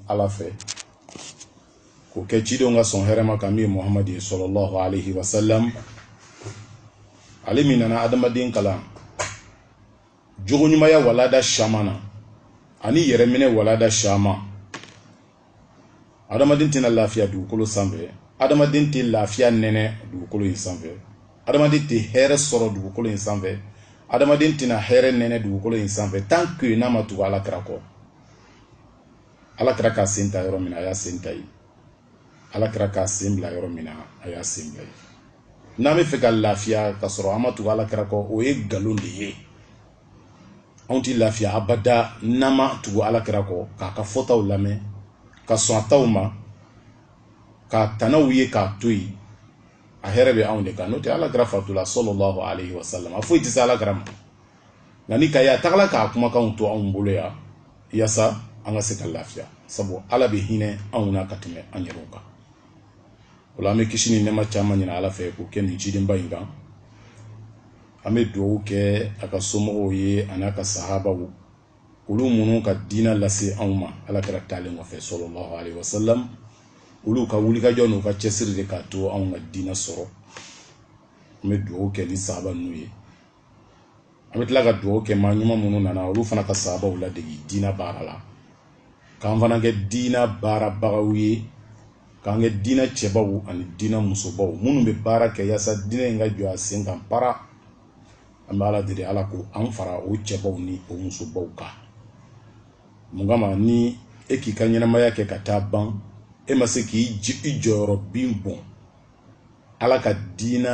ala fɛ k'o kɛ cidenw ka sɔn hɛrɛma kan min ye muhamadu ye sallallahu alaihi wasalam ale min nana adamaden kalan jogoɲumaya walada caman na ani yɛrɛminɛ walada caman adamaden tɛna lafiya dugukolo sanfɛ adamaden tɛ lafiya nɛnɛ dugukolo in sanfɛ adamaden tɛ hɛrɛ sɔrɔ dugukolo in sanfɛ adamaden tɛna hɛrɛ nɛnɛ dugukolo in sanfɛ tant que n'a ma tugu ala kira kɔ ala kira k'a sen ta yɔrɔ min na a y'a sen ta yen ala kira k'a sen bila yɔrɔ min na a y'a sen bila yen n'an bɛ fɛ ka lafiya ka sɔrɔ an ma tugu ala kira kɔ o ye nkalon de ye anw tɛ lafiya abada n'an ma tugu ala kira kɔ k'a ka fɔtaw lamɛn ka sɔn a taw ma k'a tanaw ye k'a to yen a hɛrɛ bɛ anw de kan n'o tɛ ala kira fatula sallallahu alayhi wa sallam a foyi tɛ se ala kira ma nka n'i k'a ye a tagala k'a kumakanw to anw bolo yan yasa an ka se ka lafiya sabu ala bɛ hinɛ anw na ka tɛmɛ an yɛrɛw kan o la an bɛ kisi ni nɛɛma caman ɲini ala fɛ k'o kɛ nin cidenba in kan an bɛ dugawu kɛ a ka somɔgɔw ye an'a ka sahabaw olu minnu ka diinɛ lase anw ma ala kira taalen kɔfɛ sallallahu alayhi wa sallam olu ka wulikajɔ n'u ka cɛsiri de k'a to anw ka diinɛ sɔrɔ an bɛ dugawu kɛ ni sahaba ninnu ye an bɛ tila ka dugawu kɛ maa ɲuman minnu nana olu fana ka sahabaw ladege diinɛ baara la k'an fana kɛ diinɛ baarabagaw ye k'an kɛ diinɛ cɛbaw ani diinɛ musobaw minnu bɛ baara kɛ yaasa diinɛ in ka jɔ a sen kan para an bɛ ala deli ala k'an fara o cɛbaw ni o musobaw kan mun kama ni e k'i ka ɲɛnamaya kɛ ka taa ban e ma se k'i i jɔyɔrɔ bin bɔn ala ka diina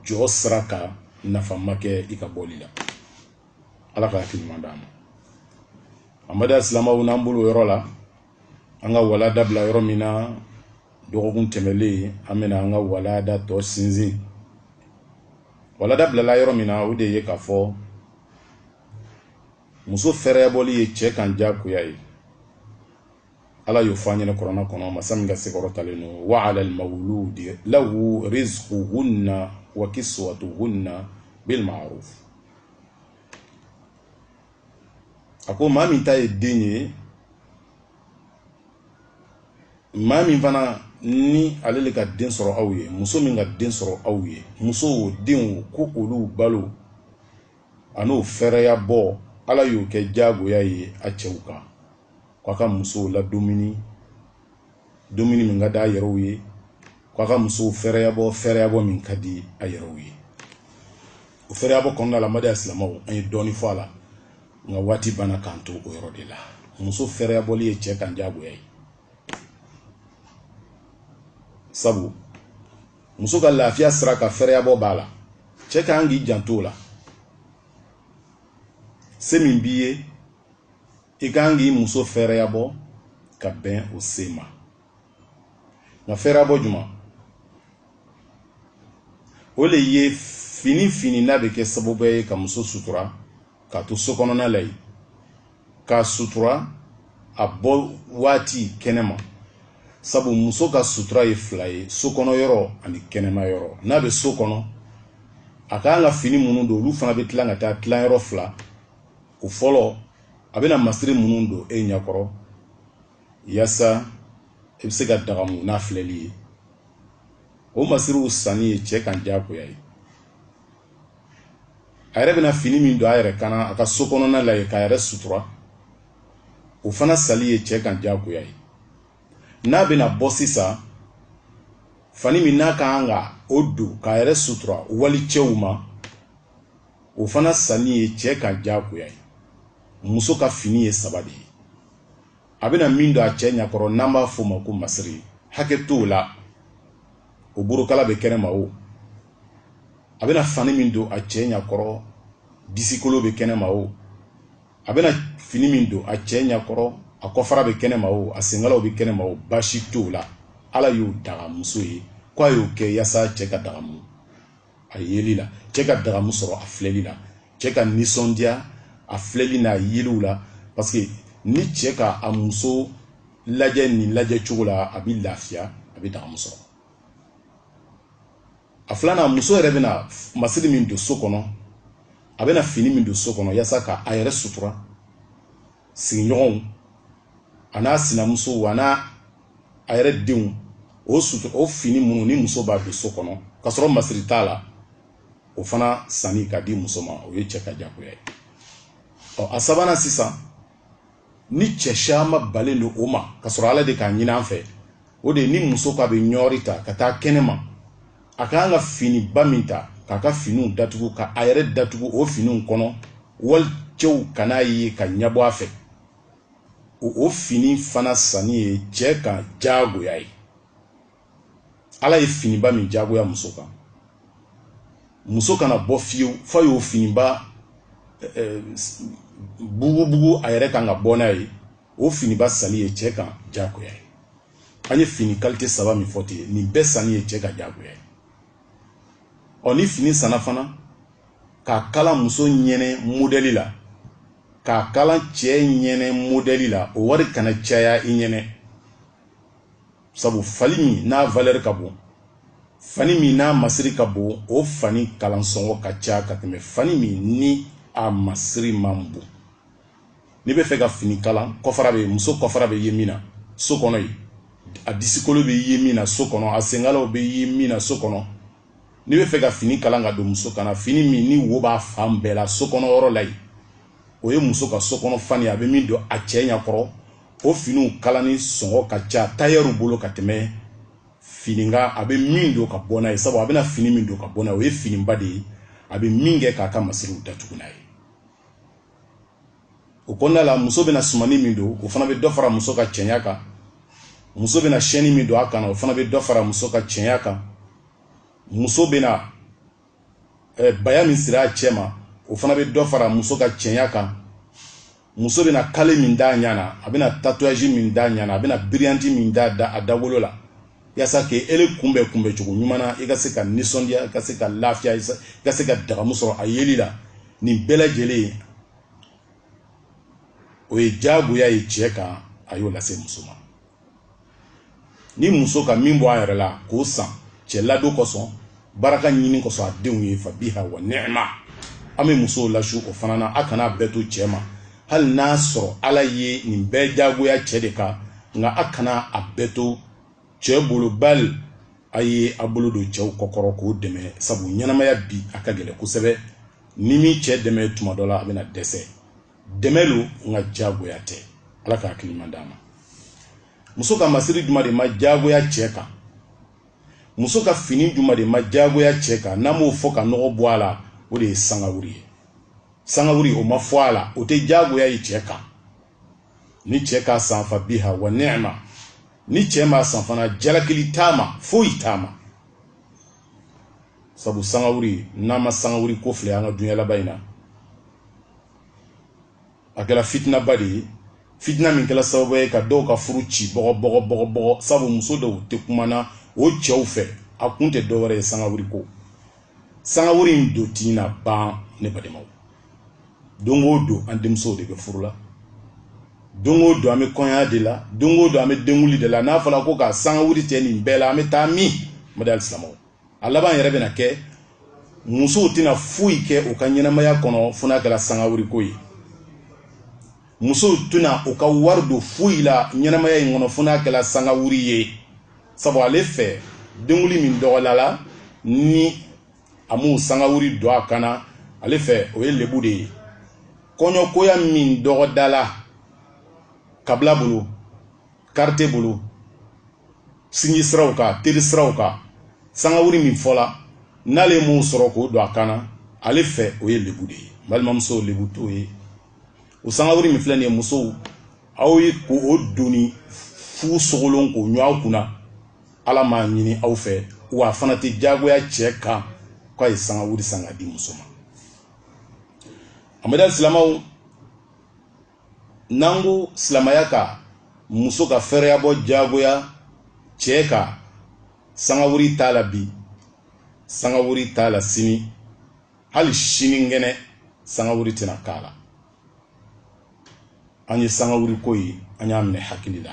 jɔ sira kan nafa ma kɛ i ka bɔli la ala ka hakili ɲuman d'an ma an baden silamaw n'an bolo yɔrɔ la an ka walada bila yɔrɔ min na dɔgɔkun tɛmɛlen an bɛna an ka walada tɔ sinsin walada bilala yɔrɔ min na o de ye k'a fɔ muso fɛɛrɛyabɔli ye cɛ kan jagoya ye ala y'o fɔ an ɲɛna kurana kɔnɔ masa min ka se kɔrɔtalen don wa ala almawludi lahu rizquhunna wa kiswatuhunna bil ma'ruf a ko maa min ta ye den ye maa min fana ni ale le ka den sɔrɔ aw ye muso min ka den sɔrɔ aw ye muso o den o ko olu balo an'o fɛɛrɛya bɔ ala y'o kɛ jagoya ye a cɛw kan k'a ka musow ladumuni dumuni min ka di a yɛrɛw ye k'a ka musow fɛɛrɛyabɔ fɛɛrɛyabɔ min ka di a yɛrɛw ye o fɛɛrɛyabɔ kɔnɔna la n baden silamɛw an ye dɔɔnin fɔ a la nka waati banna k'an to o yɔrɔ de la muso fɛɛrɛyabɔli ye cɛ kan diyagoya ye sabu muso ka lafiya sira ka fɛɛrɛyabɔ b'a la cɛ ka kan k'i janto o la se min b'i ye i ka kan k'i muso fɛɛrɛyabɔ ka bɛn o se ma nka fɛɛrɛyabɔ juman o le ye fini fini n'a bɛ kɛ sababu ye ka muso sutura k'a to so kɔnɔna la yen k'a sutura a bɔ waati kɛnɛma sabu muso ka sutura ye fila ye so kɔnɔ yɔrɔ ani kɛnɛma yɔrɔ n'a bɛ so kɔnɔ a ka kan ka fini minnu don olu fana bɛ tila ka taa tilayɔrɔ fila o fɔlɔ a bɛna masiri minnu don e ɲɛkɔrɔ yasa i bɛ se ka dagamu n'a filɛli ye o masiriw sanni ye cɛ kan diyagoya ye a yɛrɛ bɛna fini min don a yɛrɛ kan na a ka so kɔnɔna la yen k'a yɛrɛ sutura o fana sanni ye cɛ kan diyagoya ye n'a bɛna bɔ sisan fani min n'a ka kan ka o don k'a yɛrɛ sutura wali cɛw ma o fana sanni ye cɛ kan diyagoya ye muso ka fini ye saba de ye a bɛna min don a cɛ ɲakɔrɔ n'an b'a f'o ma ko masiri hakɛ t'o la o borokala bɛ kɛnɛma o a bɛna fani min don a cɛ ɲakɔrɔ disikolo bɛ kɛnɛma o a bɛna fini min don a cɛ ɲakɔrɔ a kɔfara bɛ kɛnɛma o a senkalaw bɛ kɛnɛma o baasi t'o la ala y'o daga muso ye k'a y'o kɛ yasa cɛ ka dagamu a yeli la cɛ ka dagamu sɔrɔ a filɛli la cɛ ka nisɔndiya a filɛli n'a yeliw la parce que ni cɛ ka a muso lajɛ nin lajɛ cogo la a bɛ lafiya a bɛ dagamu sɔrɔ a filanan muso yɛrɛ bɛna masiri min don so kɔnɔ a bɛna fini min don so kɔnɔ yasa ka a yɛrɛ sutura sigiɲɔgɔnw a n'a sinamusow a n'a a yɛrɛ denw o sutura o fini minnu ni muso b'a don so kɔnɔ ka sɔrɔ masiri t'a la o fana sanni ka di muso ma o ye cɛ ka jagoya ye ɔ a sabanan sisan ni cɛ caman balen don o ma ka sɔrɔ ala de k'a ɲini an fɛ o de ye ni muso k'a bɛ ɲɔri ta ka taa kɛnɛma a ka kan ka finiba min ta k'a ka finiw datugu ka a yɛrɛ datugu o finiw kɔnɔ wali cɛw kan'a ye ka ɲɛbɔ a fɛ o fini fana sanni ye cɛ kan jagoya ye ala ye finiba min jagoya muso kan muso kana bɔ fiyewu f'a y'o finiba eh, eh, bugubugu a yɛrɛ kan ka bɔ n'a ye o finiba sanni ye cɛ kan jagoya ye an ye fini kalite saba min fɔ ten nin bɛɛ sanni ye cɛ ka jagoya ye ɔ ni fini sanna fana k'a kala muso ɲɛnɛ modɛli la k'a kala cɛ ɲɛnɛ modɛli la o wari kana caya i ɲɛnɛ sabu fani min n'a valɛri ka bon fani min n'a masiri ka bon o fani kalansɔngɔ ka ca ka tɛmɛ fani min ni a masiri man bon n'i bɛ fɛ ka fini kalan kɔfara bɛ muso kɔfara bɛ ye min na so kɔnɔ yen a disikolo bɛ ye min na so kɔnɔ a senkalaw bɛ ye min na so kɔnɔ n'i bɛ fɛ ka fini kalan ka don muso kan na fini min ni wo b'a fan bɛɛ la so kɔnɔ yɔrɔ la yen o ye muso ka so kɔnɔ fani a bɛ min don a cɛ ɲɛ kɔrɔ o finiw kalanni sɔngɔ ka ca tailleur bolo ka tɛmɛ fini kan a bɛ min don ka bɔ n'a ye sabu a bɛna fini min don ka bɔ n'a ye o ye finiba de ye a bɛ min kɛ k'a ka masiriw datugu n'a ye o kɔnɔna la muso bɛna sumani min don o fana bɛ dɔ fara muso ka cɛɲa kan muso bɛna chaîne min don a kan na o fana bɛ dɔ fara muso ka cɛɲa kan muso bɛna eh, baya min siri a cɛma o fana bɛ dɔ fara muso ka cɛɲa kan muso bɛna kale min d'a ɲa na a bɛna tatouage min d'a ɲa na a bɛna biriyanti min d'a da a dawolo la yaasa k'ele kunbɛ kunbɛ cogo ɲuman na i ka se ka nisɔndiya i ka se ka lafiya i ka se ka dagamu sɔrɔ a yeli la nin bɛɛ lajɛlen o ye jagoya ye cɛ kan a y'o lase muso ma ni muso ka min bɔ a yɛrɛ la k'o san cɛ ladon kosɔn baraka ɲini kosɔn a denw ye fa biha wa ni'ma an bɛ musow lasu o fana na a kana a bɛɛ to cɛ ma hali n'a sɔrɔ ala ye nin bɛɛ jagoya cɛ de kan nka a kana a bɛɛ to cɛ bolo bali a ye a bolo don cɛw kɔkɔrɔ k'o dɛmɛ sabu ɲɛnamaya bi a ka gɛlɛn kosɛbɛ n'i m'i cɛ dɛmɛ tuma dɔ la a bɛna dɛsɛ dɛmɛ lo nka jagoya tɛ ala ka hakili ɲuman d'an ma muso ka masiri juma de ma jagoya cɛ kan muso ka fini juma de ma jagoya cɛ kan n'an m'o fɔ ka nɔgɔ bɔ a la o de ye sangawuri ye sangawuri o ma fɔ a la o tɛ jagoya ye cɛ kan ni cɛ k'a san fa biha wa ni'ma ni cɛ m'a san fana jalakili t'a ma foyi t'a ma sabu sangawuri n'a ma sangawuri ko filɛ an ka dunya laban in na a kɛra fitinaba de ye fitina min kɛra sababu ye ka dɔw ka furu ci bɔgɔbɔgɔbɔgɔbɔgɔ sabu muso dɔw tɛ kumana o cɛw fɛ a kun tɛ dɔwɛrɛ ye sangawuri ko sangawuri in don tɛna ban ne badenmaw don o don an denmusow de bɛ furu la don o don an bɛ kɔɲɔya de la don o don an bɛ denguli de la n'a fɔra ko ka sangawuri tigɛ nin bɛɛ la an bɛ taa min mada silamɛw a laban yɛrɛ bɛna kɛ musow tɛna foyi kɛ u ka ɲɛnamaya kɔnɔ fo n'a kɛra sangawuriko ye musow tɛna u ka wari don foyi la ɲɛnamaya in kɔnɔ fo n'a kɛra sangawuri ye sabu ale fɛ denguli min dɔgɔdala ni a m'o sangawuri don a kan na ale fɛ o ye lebu de ye kɔɲɔkoya min dɔgɔdala kabila bolo quartier bolo sinji siraw kan teri siraw kan sangawuri min fɔla n'ale m'o sɔrɔ k'o don a kan na ale fɛ o ye lebu de ye balimamuso lebu t'o ye o sangawuri min filɛ nin ye musow aw ye k'o doni fu sogolon k'o ɲun aw kunna ala m'a ɲini aw fɛ wa a fana tɛ jagoya cɛ kan k'a ye sangawuri san ka di muso ma amadu silamaw n'an ko silamaya ka muso ka fɛɛrɛyabɔ jagoya cɛ kan sangawuri t'a la bi sangawuri t'a la sini hali sinikɛnɛ sangawuri tɛna k'a la an ye sangawuri ko ye an y'a minɛ hakili la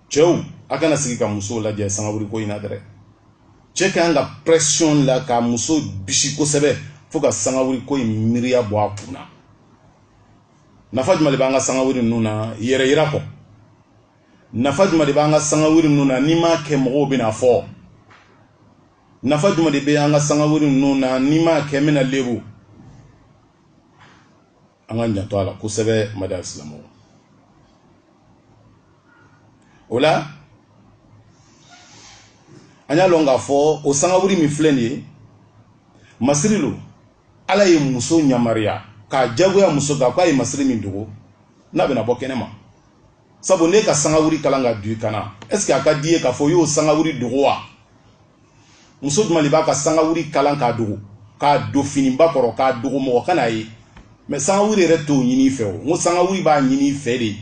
cɛw a kana sigi ka musow lajɛ sangawuri ko in na dɛrɛ cɛ ka kan ka pression la ka muso bisi kosɛbɛ fo ka sangawuri ko in miiriya bɔ a kun na nafa jumɛn de b'an ka sangawuri ninnu na yɛrɛyira kɔ nafa jumɛn de b'an ka sangawuri ninnu na n'i m'a kɛ mɔgɔw bɛna a fɔ nafa jumɛn de bɛ an ka sangawuri ninnu na ni n m'a kɛ n bɛna lebu an ka janto a la kosɛbɛ mada silamɛ o la an y'a lɔn k'a fɔ o sangawuri min filɛ nin ye masiri lo ala ye muso ɲamariya k'a jagoya muso kan ko a ye masiri min dogo n'a bɛna bɔ kɛnɛ ma sabu n'i ka sangawuri kalan ka don i kan na est ce que a ka di i ye k'a fɔ i y'o sangawuri dogo wa muso jumɛn de b'a ka sangawuri kalan k'a dogo k'a don finiba kɔrɔ k'a dogo mɔgɔ kana a ye mais sangawuri yɛrɛ t'o ɲini i fɛ o n ko sangawuri b'a ɲini i fɛ de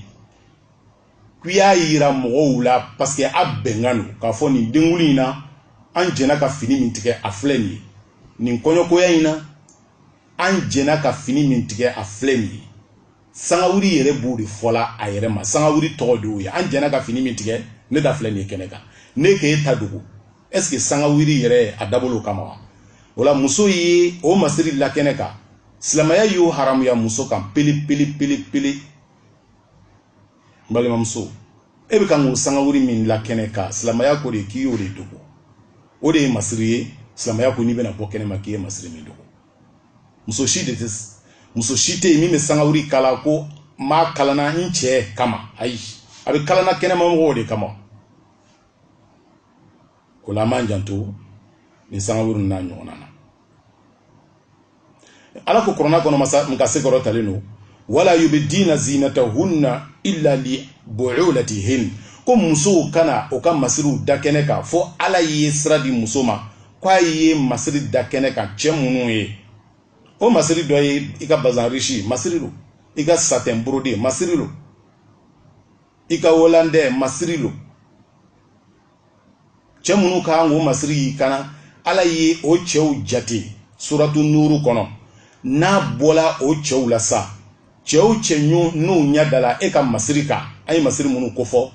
ko i y'a yira mɔgɔw la parce que a bɛnkan lo k'a fɔ nin denguli in na an jɛna ka fini min tigɛ a filɛ nin ye nin kɔɲɔkoya in na an jɛna ka fini min tigɛ a filɛ nin ye sangawuri yɛrɛ b'o de fɔla a yɛrɛ ma sangawuri tɔgɔ de y'o ye an jɛna ka fini min tigɛ ne ta filɛ nin ye kɛnɛ kan ne k'e e ta dogo est ce que sangawuri yɛrɛ a dabɔl'o kama wa o la muso ye o masiri la kɛnɛ kan silamɛya y'o haramuya muso kan pele pele pele pele n balimamuso e bɛ kan k'o sangawuri min la kɛnɛ kan silamɛya ko de k'i y'o de dogo o de ye masiri ye silamɛya ko n'i bɛna bɔ kɛnɛ ma k'i ye masiri min dogo muso si de tɛ muso si tɛ yen min bɛ sangawuri kala ko n b'a kalanna n cɛ kama ayi a bɛ kalanna kɛnɛma mɔgɔw de kama o la an b'an janto nin sangawuri n'a ɲɔgɔnna na ala ko kurana kɔnɔ masa min ka se kɔrɔtalen don wala yubdina zinatahunna illa li bu'ulatihin ko musow kana o ka masiriw da kɛnɛ kan fo ala ye sira di muso ma k'a ye masiri da kɛnɛ kan cɛ minnu ye o masiri dɔ ye i ka bazan risi masiri don i ka satɛn burode masiri don i ka wolandɛ masiri don cɛ minnu ka kan k'o masiri y'i kan na ala ye o cɛw jate suratu nuuru kɔnɔ n'a bɔla o cɛw la sa cɛ o cɛ n'u ɲɛ dala e ka masiri kan an ye masiri minnu kofɔ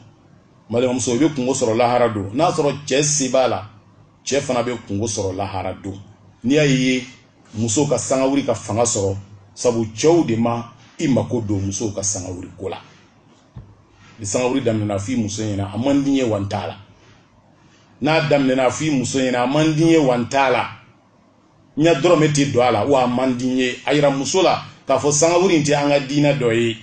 balimamuso i bɛ kunko sɔrɔ lahara don n'a sɔrɔ cɛ se b'a la cɛ fana bɛ kunko sɔrɔ lahara don n'i y'a ye muso ka sangawuli ka fanga sɔrɔ sabu cɛw de ma i mako don musow ka sangawuli ko la ni sangawuli daminɛna f'i muso ɲɛna a man di n ye wa n t'a la n'a daminɛna f'i muso ɲɛna a man di n ye wa n t'a la n ya dɔrɔmɛ tɛ don a la wa a man di n ye a yira muso la k'a fɔ sangawuli in tɛ an ka diina dɔ ye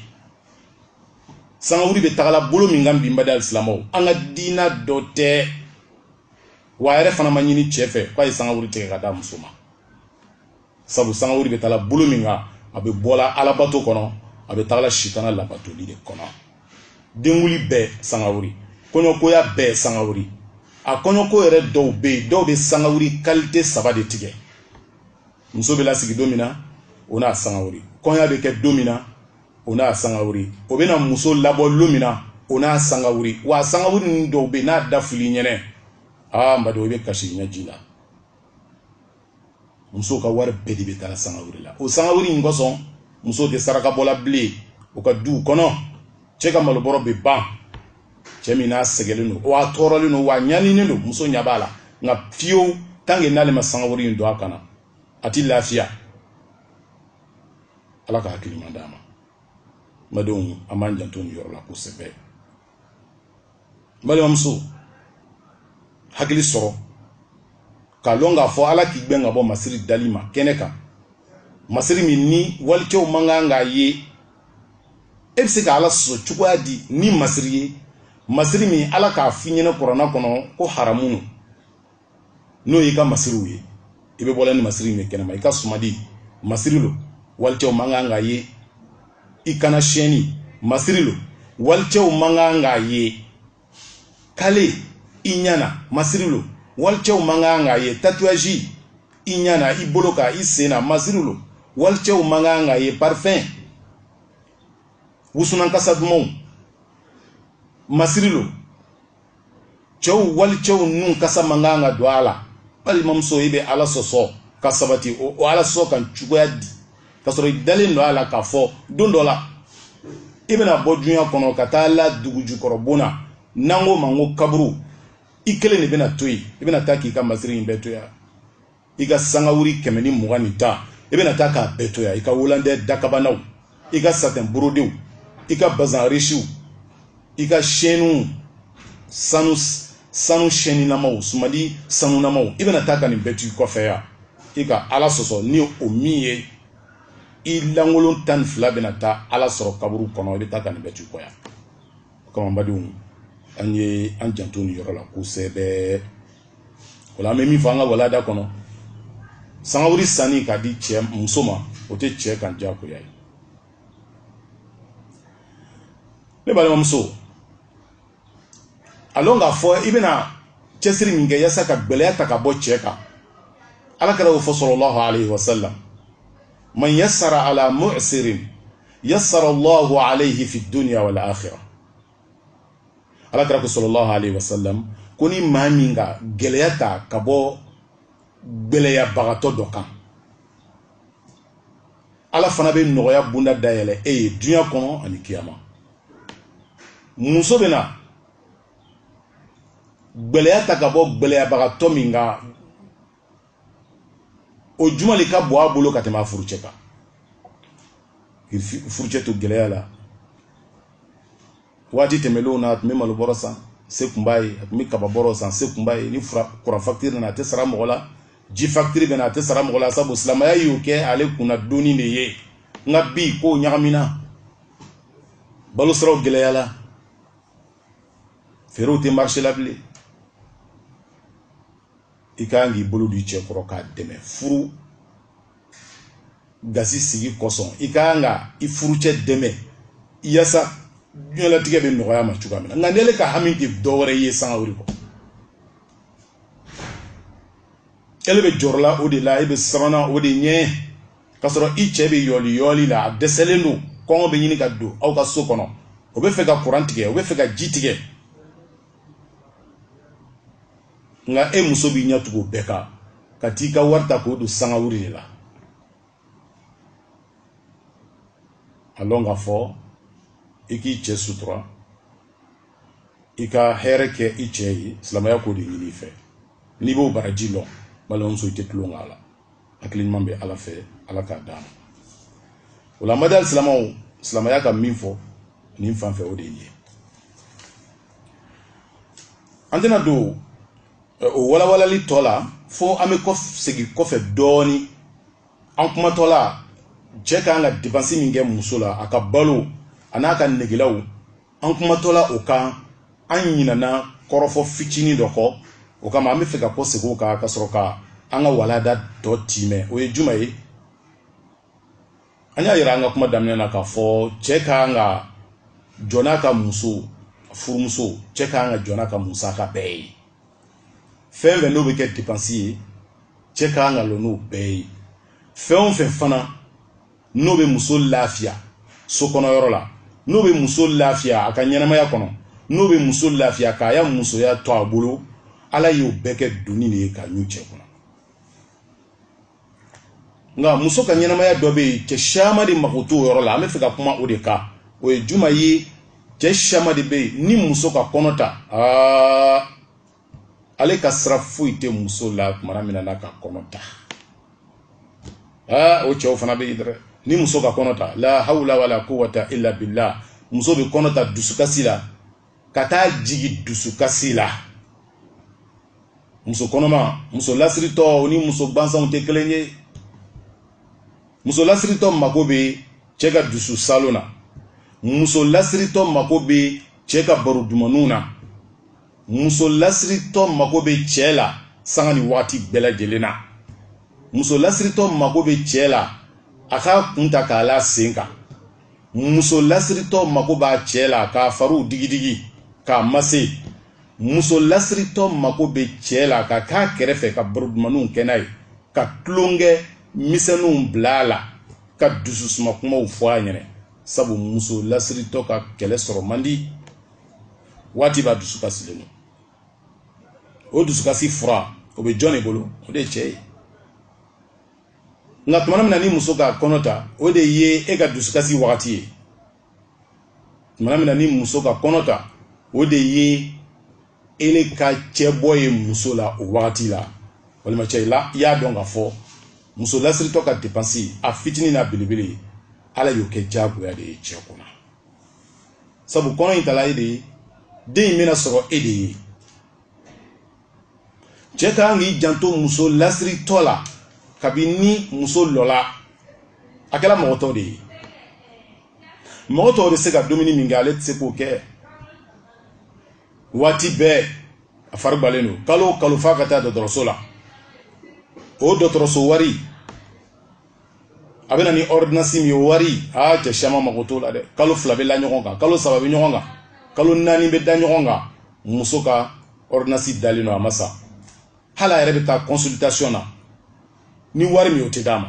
sangawuli bɛ tagala bolo min kan bi n baden alisilamɛw an ka diina dɔ tɛ wa a yɛrɛ fana ma ɲini cɛ fɛ k'a ye sangawuli tigɛ ka d'a muso ma sabu sangawuli bɛ tagala bolo min kan a bɛ bɔla alabato kɔnɔ a bɛ tagala sitana labatoli de kɔnɔ denkunli bɛɛ sangawuli kɔɲɔkoya bɛɛ sangawuli a kɔɲɔko yɛrɛ dɔw bɛ yen dɔw bɛ sangawuli kalite saba de tigɛ muso bɛ lasigi don min na o n'a sangawuli kɔɲɔ bɛ kɛ don min na o n'a sangawuri o bɛna muso labɔ lon min na o n'a sangawuri wa sangawuri ninnu dɔw bɛ n'a da fɔl'i ɲɛna n baden i bɛ kasi ɲɛji la musow ka wari bɛɛ de bɛ taa sangawuri la o sangawuri in kosɔn musow tɛ saraka bɔla bilen u ka duw kɔnɔ cɛ ka malobɔrɔ bɛ ban cɛ min n'a sɛgɛlen don wa a tɔɔrɔlen don wa a ɲaninen don muso ɲɛ b'a la nka fiyewu tanke n'ale ma sangawuri in don a kan na a tɛ lafiya ala ka hakili ɲuman d'a ma n badenw an b'an janto nin yɔrɔ la kosɛbɛ balimamuso hakili sɔrɔ k'a lɔn k'a fɔ ala k'i gbɛn ka bɔ masiri dali ma kɛnɛ kan masiri min ni walicɛw man kan k'a ye e bɛ se ka ala sɔsɔ cogoya di ni masiri ye masiri min ala k'a f'i ɲɛna kurana kɔnɔ ko haramu no n'o y'i ka masiriw ye i bɛ bɔla ni masiri min ye kɛnɛma i ka sumadi masiri lo walicɛw man kan k'a ye i kan na sɛni masiri lo walicɛw man kan k'a ye kale i ɲana masiri lo walicɛw man kan k'a ye tatouage i ɲana i bolo kan i sen na masiri lo walicɛw man kan k'a ye parfum wusunan kasa dumanw masiri lo cɛw walicɛw nun kasa man kan ka don a la balimamuso i bɛ ala sɔsɔ ka sabati o ala sɔsɔ kan cogoya di ka sɔrɔ i dalen lo a la k'a fɔ don dɔ la i bɛna bɔ dunya kɔnɔ ka taa la dugu jukɔrɔ bon na n'an k'o ma ko kaburu i kelen le bɛna to yen i bɛna taa k'i ka masiri in bɛɛ to yan i ka sangawuri kɛmɛ ni mugan ni tan i bɛna taa k'a bɛɛ to yan i ka wolandɛ dakabanaw i ka satɛn borodew i ka bazan risiw i ka sɛniw sanu sɛninamaw sumadi sanunamaw i bɛna taa ka nin bɛɛ to i kɔfɛ yan i ka ala sɔsɔ ni o min ye i lankolon tan ni fila bɛna taa ala sɔrɔ kaburu kɔnɔ i bɛ taa ka nin bɛɛ to i kɔ yan kama n badenw an ye an janto nin yɔrɔ la kosɛbɛ o la an bɛ min fɔ an ka walanda kɔnɔ sangawuri sanni k'a di cɛ muso ma o tɛ cɛ kan diyagoya ye ne balimamuso a lɔn k'a fɔ i bɛna cɛsiri min kɛ yasa ka gɛlɛya ta ka bɔ cɛ kan ala kira k'o fɔ sallallahu alayhi wa sallam man yassara ala mu'sirin yassara allahu alayhi fi dunya wal akhirah ala kira ko sallallahu alaihi wasallam ko ni maa min ka gɛlɛya ta ka bɔ gɛlɛyabagatɔ dɔ kan ala fana bɛ nɔgɔya bunda dayɛlɛ e ye dunya kɔnɔ ani kiyama muso bɛna gɛlɛya ta ka bɔ gɛlɛyabagatɔ min kan o juman le ka bon a bolo ka tɛmɛ a furucɛ kan k'i furucɛ to gɛlɛya la waati tɛmɛnlenw na a tun bɛ malo bɔrɔ san se tun b'a ye a tun bɛ kaba bɔrɔ san se tun b'a ye ni kuran fakitiri nana a tɛ sara mɔgɔ la ji fakitiri bɛna a tɛ sara mɔgɔ la sabu silamɛya y'o kɛ ale kunna doni de ye nka bi kow ɲagamina balo siraw gɛlɛyala feerew tɛ marché la bilen i ka kan k'i bolo di cɛ kɔrɔ k'a dɛmɛ furu gasi sigi kosɔn i ka kan ka i furucɛ dɛmɛ yasa diɲɛlatigɛ bɛ nɔgɔya ma cogoya min na nka n'ele ka hami tɛ dɔwɛrɛ ye sangawuli kɔ ele bɛ jɔrɔla o de la e bɛ siranna o de ɲɛ k'a sɔrɔ i cɛ bɛ yɔli yɔli la a dɛsɛlen don kɔngɔ bɛ ɲini ka don aw ka so kɔnɔ o bɛ fɛ ka kuran tigɛ o bɛ fɛ ka ji tigɛ nka e muso b'i ɲɛ tugu bɛɛ kan ka t'i ka wari ta k'o don sangawuli de la a lɔn k'a fɔ i k'i cɛ sutura i ka hɛrɛ kɛ i cɛ ye silamɛya k'o de ɲini i fɛ n'i b'o baraji lɔn balimamuso i tɛ tulon k'a la hakili ɲuman bɛ ala fɛ ala k'a d'an ma o la baden silamɛw silamɛya ka min fɔ nin fan fɛ o de ye an tɛna don o walawalali tɔ la fo an bɛ kɔ segin kɔfɛ dɔɔnin an kumatɔ la cɛ ka kan ka depansi min kɛ muso la a ka balo a n'a ka negelaw an kumatɔ la o kan an ɲinana kɔrɔfɔ fitinin dɔ kɔ o kama an bɛ fɛ ka kɔ segin o kan ka sɔrɔ ka an ka walanda tɔ tiimɛ o ye juman ye an y'a yira an ka kuma daminɛ na k'a fɔ cɛ ka kan ka jɔ n'a ka muso furumuso cɛ ka kan ka jɔ n'a ka musaka bɛɛ ye fɛn fɛn n'o bɛ kɛ depansi ye cɛ ka kan ka lɔ n'o bɛɛ ye fɛn o fɛn fana n'o bɛ muso lafiya so kɔnɔ yɔrɔ la n'o bɛ muso lafiya a ka ɲɛnamaya kɔnɔ n'o bɛ muso lafiya k'a ya musoya to a bolo ala y'o bɛɛ kɛ doni de ye k'a ɲun cɛ kɔnɔ nka muso ka ɲɛnamaya dɔ bɛ yen cɛ caman de mako t'o yɔrɔ la an bɛ fɛ ka kuma o de kan o ye juman ye cɛ caman de bɛ yen ni muso ka kɔnɔ ta aa ale ka sira foyi tɛ muso la tuma min n'a ka kɔnɔ ta aa o cɛw fana bɛ yen dɛ ni muso ka kɔnɔ ta la hawla wala quwwata illa billah muso bɛ kɔnɔ ta dusukasi la ka taa jigi dusukasi la muso kɔnɔma muso lasiritɔ ni muso gansanw tɛ kelen ye muso lasiritɔ mako bɛ cɛ ka dusu saalon na muso lasiritɔ mako bɛ cɛ ka baro dumanw na muso lasiritɔ mako bɛ cɛ la sanga ni waati bɛɛ lajɛlen na muso lasiritɔ mako bɛ cɛ la a k'a kun ta k'a la sen kan muso lasiritɔ mako b'a cɛ la k'a fariw digidigi k'a mase muso lasiritɔ mako bɛ cɛ la ka k'a kɛrɛfɛ ka baro dumanniw kɛ n'a ye ka tulonkɛ misɛnninw bila a la ka dususuma kumaw fɔ a ɲɛna sabu muso lasiritɔ ka kɛlɛ sɔrɔ man di waati bɛɛ a dusukasilen don o dusukasi fura o bɛ jɔn de bolo o de ye cɛ ye nka tuma min na ni muso ka kɔnɔ ta o de ye e ka dusukasi wagati ye tuma min na ni muso ka kɔnɔ ta o de ye ele ka cɛ bɔ ye muso la o wagati la n balimacɛ yala i y'a dɔn k'a fɔ muso lasiritɔ ka depansi a fitinin n'a belebele ala y'o kɛ diyagoya de ye cɛ kunna sabu kɔnɔ in tala e de ye den in bɛna sɔrɔ e de ye cɛ ka kan k'i janto muso lasiritɔ la kabini muso lɔla a kɛra mɔgɔ tɔ de ye mɔgɔ tɔw bɛ se ka dumuni min kɛ ale tɛ se k'o kɛ waati bɛɛ a fari gbalen don kalo o kalo f'a ka taa dɔgɔtɔrɔso la o dɔgɔtɔrɔso wari a bɛ na ni ɔridinasi min ye o wari aa cɛ caman mago t'o la dɛ kalo fila bɛ la ɲɔgɔn kan kalo saba bɛ ɲɔgɔn kan kalo naani bɛ da ɲɔgɔn kan muso ka ɔridinasi dalen don a ma san hali a yɛrɛ bɛ taa consultation na ni wari min o tɛ d'a ma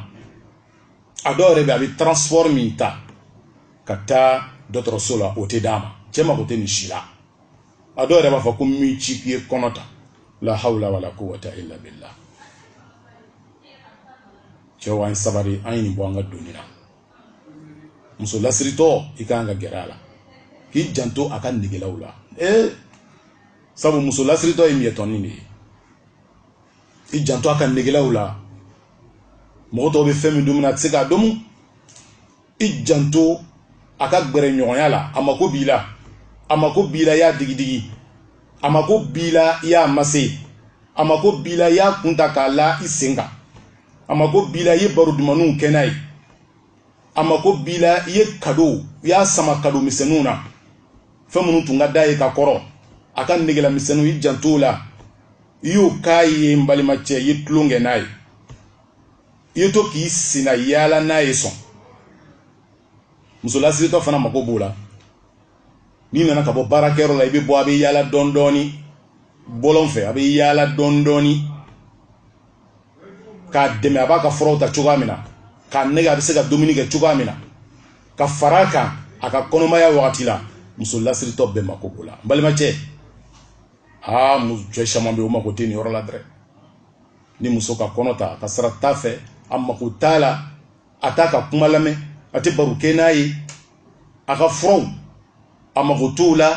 a dɔw yɛrɛ bɛ a bɛ transport min ta ka taa dɔgɔtɔrɔso la o tɛ d'a ma cɛ mago tɛ nin si la a dɔw yɛrɛ b'a fɔ ko n m'i ci k'i ye kɔnɔ ta la hawla wala quwwata illa billah cɛw an sabari an ye nin bɔ an ka doni na muso lasiritɔ i ka kan ka gɛrɛ a la k'i janto a ka negelaw la ee sabu muso lasiritɔ ye miyɛtɔnin de ye i janto a ka negelaw la mɔgɔ tɔw bɛ fɛn min dumuna a tɛ se k'a domu i janto a ka gɛrɛɲɔgɔnya la a mako b'i la a mako b'i la i y'a digidigi a mako b'i la i y'a mase a mako b'i la i y'a kun ta k'a la i sen kan a mako b'i la i ye baro dumanniw kɛ n'a ye a mako b'i la i ye kado i y'a sama kado misɛnninw na fɛn minnu tun ka d'a ye ka kɔrɔ a ka negela misɛnninw i janto o la i y'o k'a ye n balimacɛ i ye tulon kɛ n'a ye i ye to k'i senna yaala n'a ye sɔn muso lasiritɔ fana mago b'o la n'i nana ka bɔ baarakɛyɔrɔ la i bɛ bɔ a bɛ yaala dɔɔni dɔɔni bɔlɔn fɛ a bɛ yaala dɔɔni dɔɔni k'a dɛmɛ a b'a ka furaw ta cogoya min na k'a nɛgɛn a bɛ se ka dumuni kɛ cogoya min na ka fara a kan a ka kɔnɔmaya wagati la muso lasiritɔ bɛɛ mako b'o la n balimacɛ aa cɛ caman bɛ yen o mako tɛ nin yɔrɔ la dɛrɛ ni muso ka kɔnɔ ta a ka sira t'a fɛ a mako t'a la a t'a ka kuma lamɛn a tɛ baro kɛ n'a ye a ka furaw a mako t'o la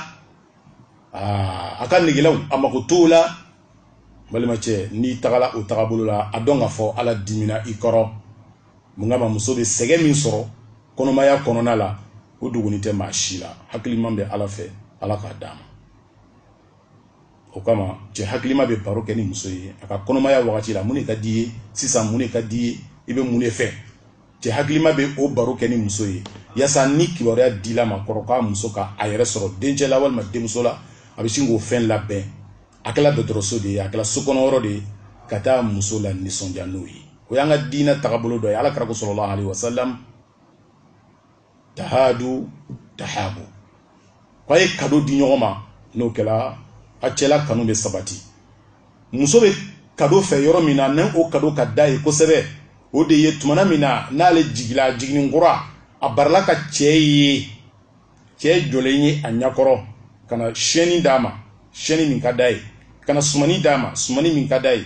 a ka negelaw a mako t'o la balimacɛ n'i tagala o tagabolo la a dɔn k'a fɔ ala dimina i kɔrɔ mun kama muso bɛ sɛgɛn min sɔrɔ kɔnɔmaya kɔnɔna la o duguni tɛ maa si la hakili ɲuman bɛ ala fɛ ala k'a d'an ma o kama cɛ hakilima bɛ baro kɛ ni muso ye a ka kɔnɔmaya wagati la mun de ka d'i ye sisan mun de ka d'i ye i bɛ mun de fɛ cɛ hakilima bɛ o baro kɛ ni muso ye yaasa ni kibaruya dil'a ma k'a fɔ k'a muso ka a yɛrɛ sɔrɔ dencɛ la walima denmuso la a bɛ sin k'o fɛn labɛn a kɛla dɔgɔtɔrɔso de ye a kɛla so kɔnɔ yɔrɔ de ye ka taa muso la nisɔndiya n'o ye o y'an ka diinɛ taabolo dɔ ye ala kira ko sallallahu alaihi wasallam tahadu tahabu ko a ye kado di ɲɔgɔn ma n'o kɛla a cɛla kanu bɛ sabati muso bɛ kado fɛ yɔrɔ min na ni o kado ka d'a ye kosɛbɛ o de ye tumana min na n'ale jigila jiginni kura a barala k'a cɛ ye cɛ jɔlen ye a ɲakɔrɔ ka na shɛni d'a ma shɛni min ka d'a ye ka na sumani d'a ma sumani min ka d'a ye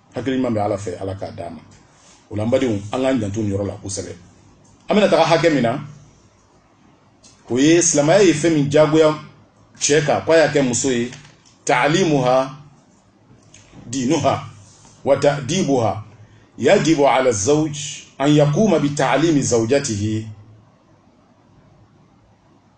hakili ɲuman bɛ ala fɛ ala k'a d'an ma o la an badenw an k'an janto nin yɔrɔ la kosɛbɛ an bɛna taga hakɛ min na o ye silamɛya ye fɛn min jagoya cɛ kan k'a y'a kɛ muso ye taalimuha diinuha wa ta'dibuha yajibu ala zawj an yakuma bi taalimi zawjatihi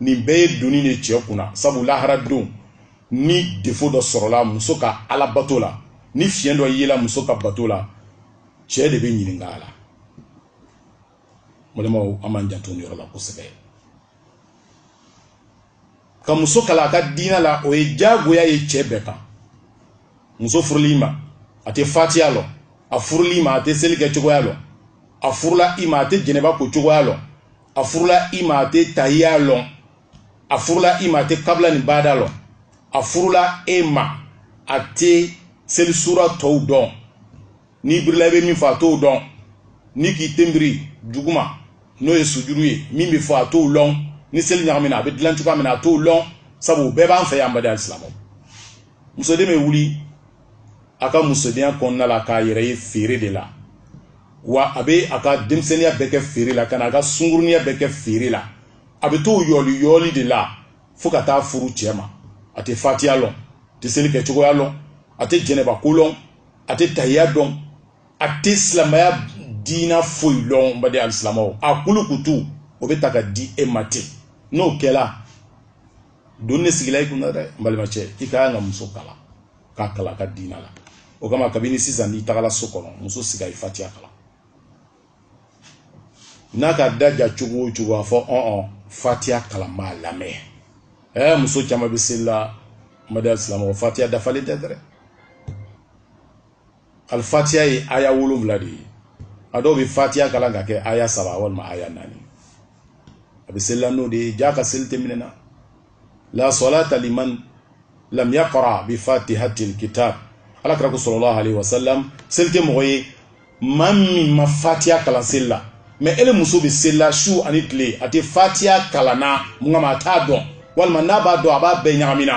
nin bɛɛ ye doni de cɛ kunna sabu lahara don ni defo dɔ sɔrɔla muso ka ala bato la ni fiɲɛ dɔ yela muso ka bato la cɛ de bɛ ɲininka a la balimaw an b'an janto nin yɔrɔ la kosɛbɛ ka muso kalan a ka diinɛ la o ye jagoya ye cɛ bɛɛ kan muso furula i ma a tɛ fatiya lɔn a furula i ma a tɛ seli kɛ cogoya lɔn a furula i ma a tɛ jɛnɛba ko cogoya lɔn a furula i ma a tɛ tahiya lɔn a furula i ma a tɛ kabila ni baada lɔn a furula e ma a tɛ selisura tɔw dɔn n'i birila i bɛ min fɔ a t'o dɔn n'i k'i ten biri duguma n'o ye sujuru ye min bɛ fɔ a t'o lɔn ni seli ɲagamina a bɛ dilan cogoya min na a t'o lɔn sabu bɛɛ b'an fɛ yan badi alisilamɛw musoden bɛ wuli a ka musodenya kɔnɔna la k'a yɛrɛ ye feere de la wa a bɛ a ka denmisɛnninya bɛɛ kɛ feere la ka na a ka sungurunya bɛɛ kɛ feere la a bɛ t'o yɔli yɔli de la fo ka taa furu cɛ ma a tɛ fatiya lɔn a tɛ seli kɛ cogoya lɔn a tɛ jɛnɛba ko lɔn a tɛ tahiya dɔn a tɛ silamɛya diina foyi lɔn badi alisilamɛw a kulukutu o bɛ ta ka di e ma ten n'o kɛla doni de sigila i kunna dɛ n balimacɛ i ka kan ka muso kalan k'a kalan a ka diina la o kama kabini sisan n'i tagala so kɔnɔ muso sigi a ye fatiya kalan n'a ka da ja cogo o cogo a fɔ ɔn fatiya kalan n b'a lamɛn ɛɛ muso caman bɛ seli la baden silamɛw fatiya dafalen tɛ dɛ al fatiya ye aya wolonwula de ye a dɔw bɛ fatiya kalan ka kɛ aya saba walima aya naani a bɛ seli la n'o de ye jaa a ka seli tɛ minɛ na la salata liman lam yaqra bi fatihatil kitab ala kira ko sallallahu alaihi wasallam seli tɛ mɔgɔ ye maa min ma fatiya kalan seli la mais ele muso bɛ seli la su ani tile a tɛ fatiya kalan na mun kama a t'a dɔn walima n'a b'a dɔn a b'a bɛɛ ɲagamina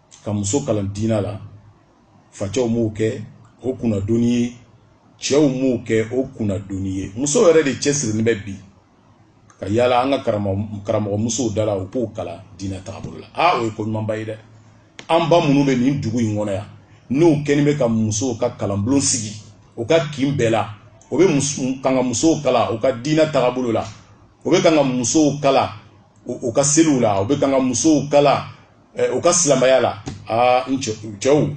ka muso kalan diinɛ la facɛw m'o kɛ o kunnadoni ye cɛw m'o kɛ o kunnadoni ye muso yɛrɛ de cɛsirilen bɛ bi ka yala an ka karamɔgɔ musow da la u k'o kalan diinɛ taabolo la aa o ye ko ɲumanba ye dɛ an ba minnu bɛ nin dugu in kɔnɔ yan n'o kɛlen bɛ ka musow ka kalanbulon sigi o ka kin bɛɛ la o bɛ kan ka musow kalan u ka diinɛ taabolo la o bɛ kan ka musow kalan u ka seliw la o bɛ kan ka musow kalan eh, u ka silamɛya la aa n cɛw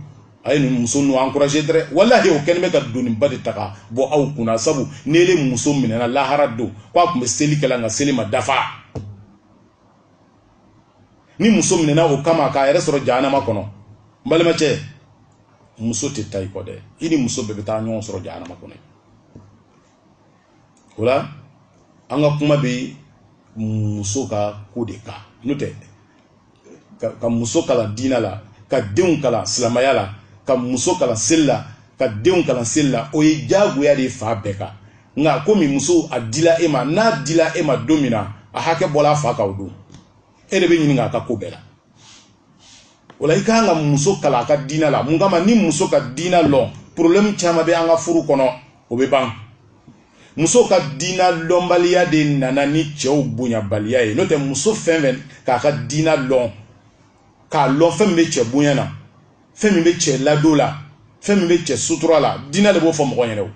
a ye nin muso ninnu encouragé dɛrɛ walahi o kɛlen bɛ ka doniba de ta ka bɔ aw kunna sabu ni ele muso minɛna lahara don ko a tun bɛ seli kɛla nka seli ma dafa ni muso minɛna o kama k'a yɛrɛ sɔrɔ jahanama kɔnɔ n balimacɛ muso tɛ taa i kɔ dɛ i ni muso bɛɛ bɛ taa ɲɔgɔn sɔrɔ jahanama kɔnɔ o la an ka kuma bɛ muso ka ko de kan n'o tɛ ka muso kalan diinɛ la ka denw kalan silamɛya la ka muso kalan seli la ka denw kalan seli la o ye diyagoya de ye fa bɛɛ kan nka komi muso a dila e ma n'a dila e ma don min na a hakɛ bɔla a fa kan o don e de bɛ ɲininka a ka ko bɛɛ la o la i ka kan ka muso kalan a ka diinɛ la mun kama ni muso ka diinɛ lɔn problème caman bɛ an ka furu kɔnɔ o bɛ ban muso ka diinɛ lɔnbaliya de nana ni cɛw bonyabaliya ye n'o tɛ muso fɛn fɛn k'a ka diinɛ lɔn k'a lɔn fɛn min bɛ cɛ bonya na fɛn min bɛ cɛ ladon la fɛn min bɛ cɛ sutura la diinɛ de b'o fɔ mɔgɔ ɲɛna o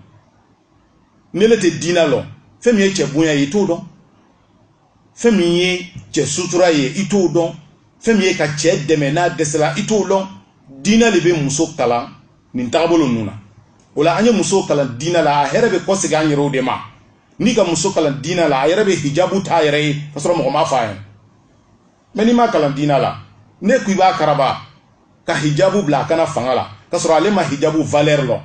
n'ele tɛ diinɛ lɔn fɛn min ye cɛ bonya ye i t'o dɔn fɛn min ye cɛ sutura ye i t'o dɔn fɛn min ye ka cɛ dɛmɛ n'a dɛsɛla i t'o dɔn diinɛ de bɛ muso kalan nin tagabolo ninnu na o la an ye muso kalan diinɛ la a hɛrɛ bɛ kɔsegin an yɛrɛw de ma n'i ka muso kalan diinɛ la a yɛrɛ bɛ hijabu t'a yɛrɛ ye ka sɔrɔ mɔgɔ m'a fɔ a ye mais n'i m'a kalan diinɛ la ne ko i b'a karaba ka hijabu bila a kan na fanga la ka sɔrɔ ale ma hijabu valeur lɔn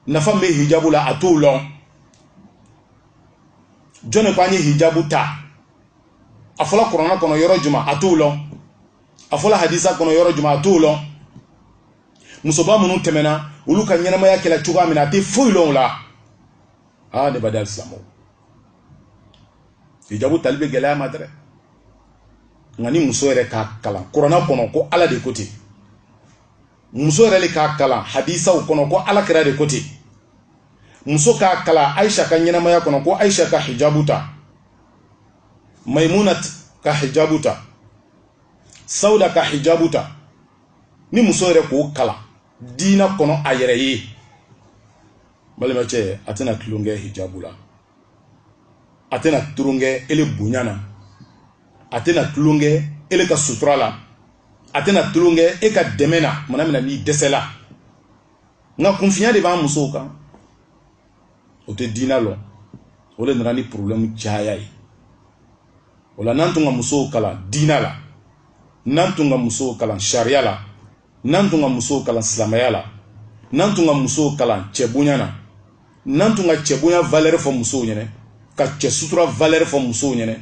nafa bɛ hijabu la a t'o lɔn jɔn de ko an ye hijabu ta a fɔla kuranna kɔnɔ yɔrɔ juma a t'o lɔn a fɔla hadisa kɔnɔ yɔrɔ juma a t'o lɔn musoba minnu tɛmɛna olu ka ɲɛnamaya kɛla cogoya min na a tɛ foyi lɔn o la aa ne baden silamɛw hijabu tali bɛ gɛlɛya a ma dɛrɛ nka ni muso yɛrɛ k'a kalan kuranna kɔnɔ ko ala de ko ten muso yɛrɛ de k'a kalan hadisaw kɔnɔ ko ala kira de ko ten muso k'a kalan ayisa ka ɲɛnamaya kɔnɔ ko ayisa ka hijabu ta maimuna ka hijabu ta sauda ka hijabu ta ni muso yɛrɛ k'o kalan diina kɔnɔ a yɛrɛ ye balimacɛ a tɛna tulonkɛ hijabu la a tɛna tulonkɛ ele bonya na a tɛna tulonkɛ ele ka sutura la a tɛna tulonkɛ e ka dɛmɛ na tuma na min na n'i dɛsɛla nka kunfiya de b'an musow kan o tɛ diina lɔn o de nana ni porobilɛmu caya ye o la n'an tun ka musow kalan diina la n'an tun ka musow kalan sariya la n'an tun ka musow kalan silamɛya la n'an tun ka musow kalan cɛ bonya na n'an tun ka cɛ bonya valɛri fɔ musow ɲɛna ka cɛ sutura valɛri fɔ musow ɲɛna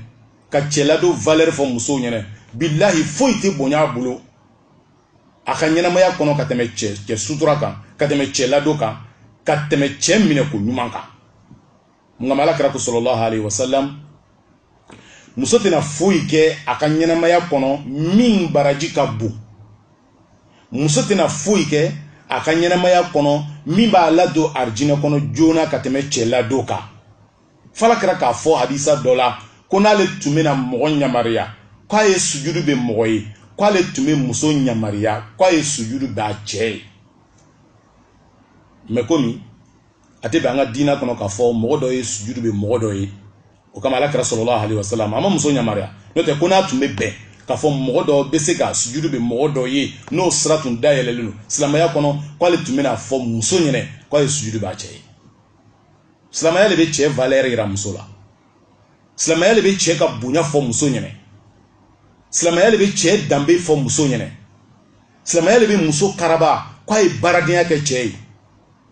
ka cɛ ladon valɛri fɔ musow ɲɛna bilahi foyi tɛ bonya a bolo a ka ɲɛnamaya kɔnɔ ka tɛmɛ cɛ sutura kan ka tɛmɛ cɛ ladon kan ka tɛmɛ cɛ minɛ ko ɲuman kan nka ala kira ko salalahu alayihi wasalam muso tɛna foyi kɛ a ka ɲɛnamaya kɔnɔ min baraji ka bon muso tɛna foyi kɛ a ka ɲɛnamaya kɔnɔ min b'a ladon arijinɛ kɔnɔ joona ka tɛmɛ cɛ ladon kan f'ala kira k'a fɔ hadisa dɔ la ko n'ale tun bɛna mɔgɔ ɲamariya k'a ye sujudu bɛ mɔgɔ ye k'ale tun bɛ muso ɲamariya k'a ye sujudu b'a cɛ ye mɛ komi a tɛ bɛn an ka diina kɔnɔ k'a fɔ mɔgɔ dɔ ye sujudu bɛ mɔgɔ dɔ ye o kama ala kira salalahu alayihi wasalam a ma muso ɲamariya n'o tɛ ko n'a tun bɛ bɛn k'a fɔ mɔgɔ dɔ bɛ se ka sujudu bɛ mɔgɔ dɔ ye n'o sira tun dayɛlɛlen don silamɛya kɔnɔ k'ale tun bɛn'a fɔ muso ɲɛna k'a ye sujudu b'a cɛ ye silamɛya de bɛ cɛ valɛri yira muso la silamɛya de bɛ cɛ ka bonya fɔ muso ɲɛna silamɛya de bɛ cɛ danbe fɔ muso ɲɛna silamɛya de bɛ muso karaba k'a ye baaradenya kɛ cɛ ye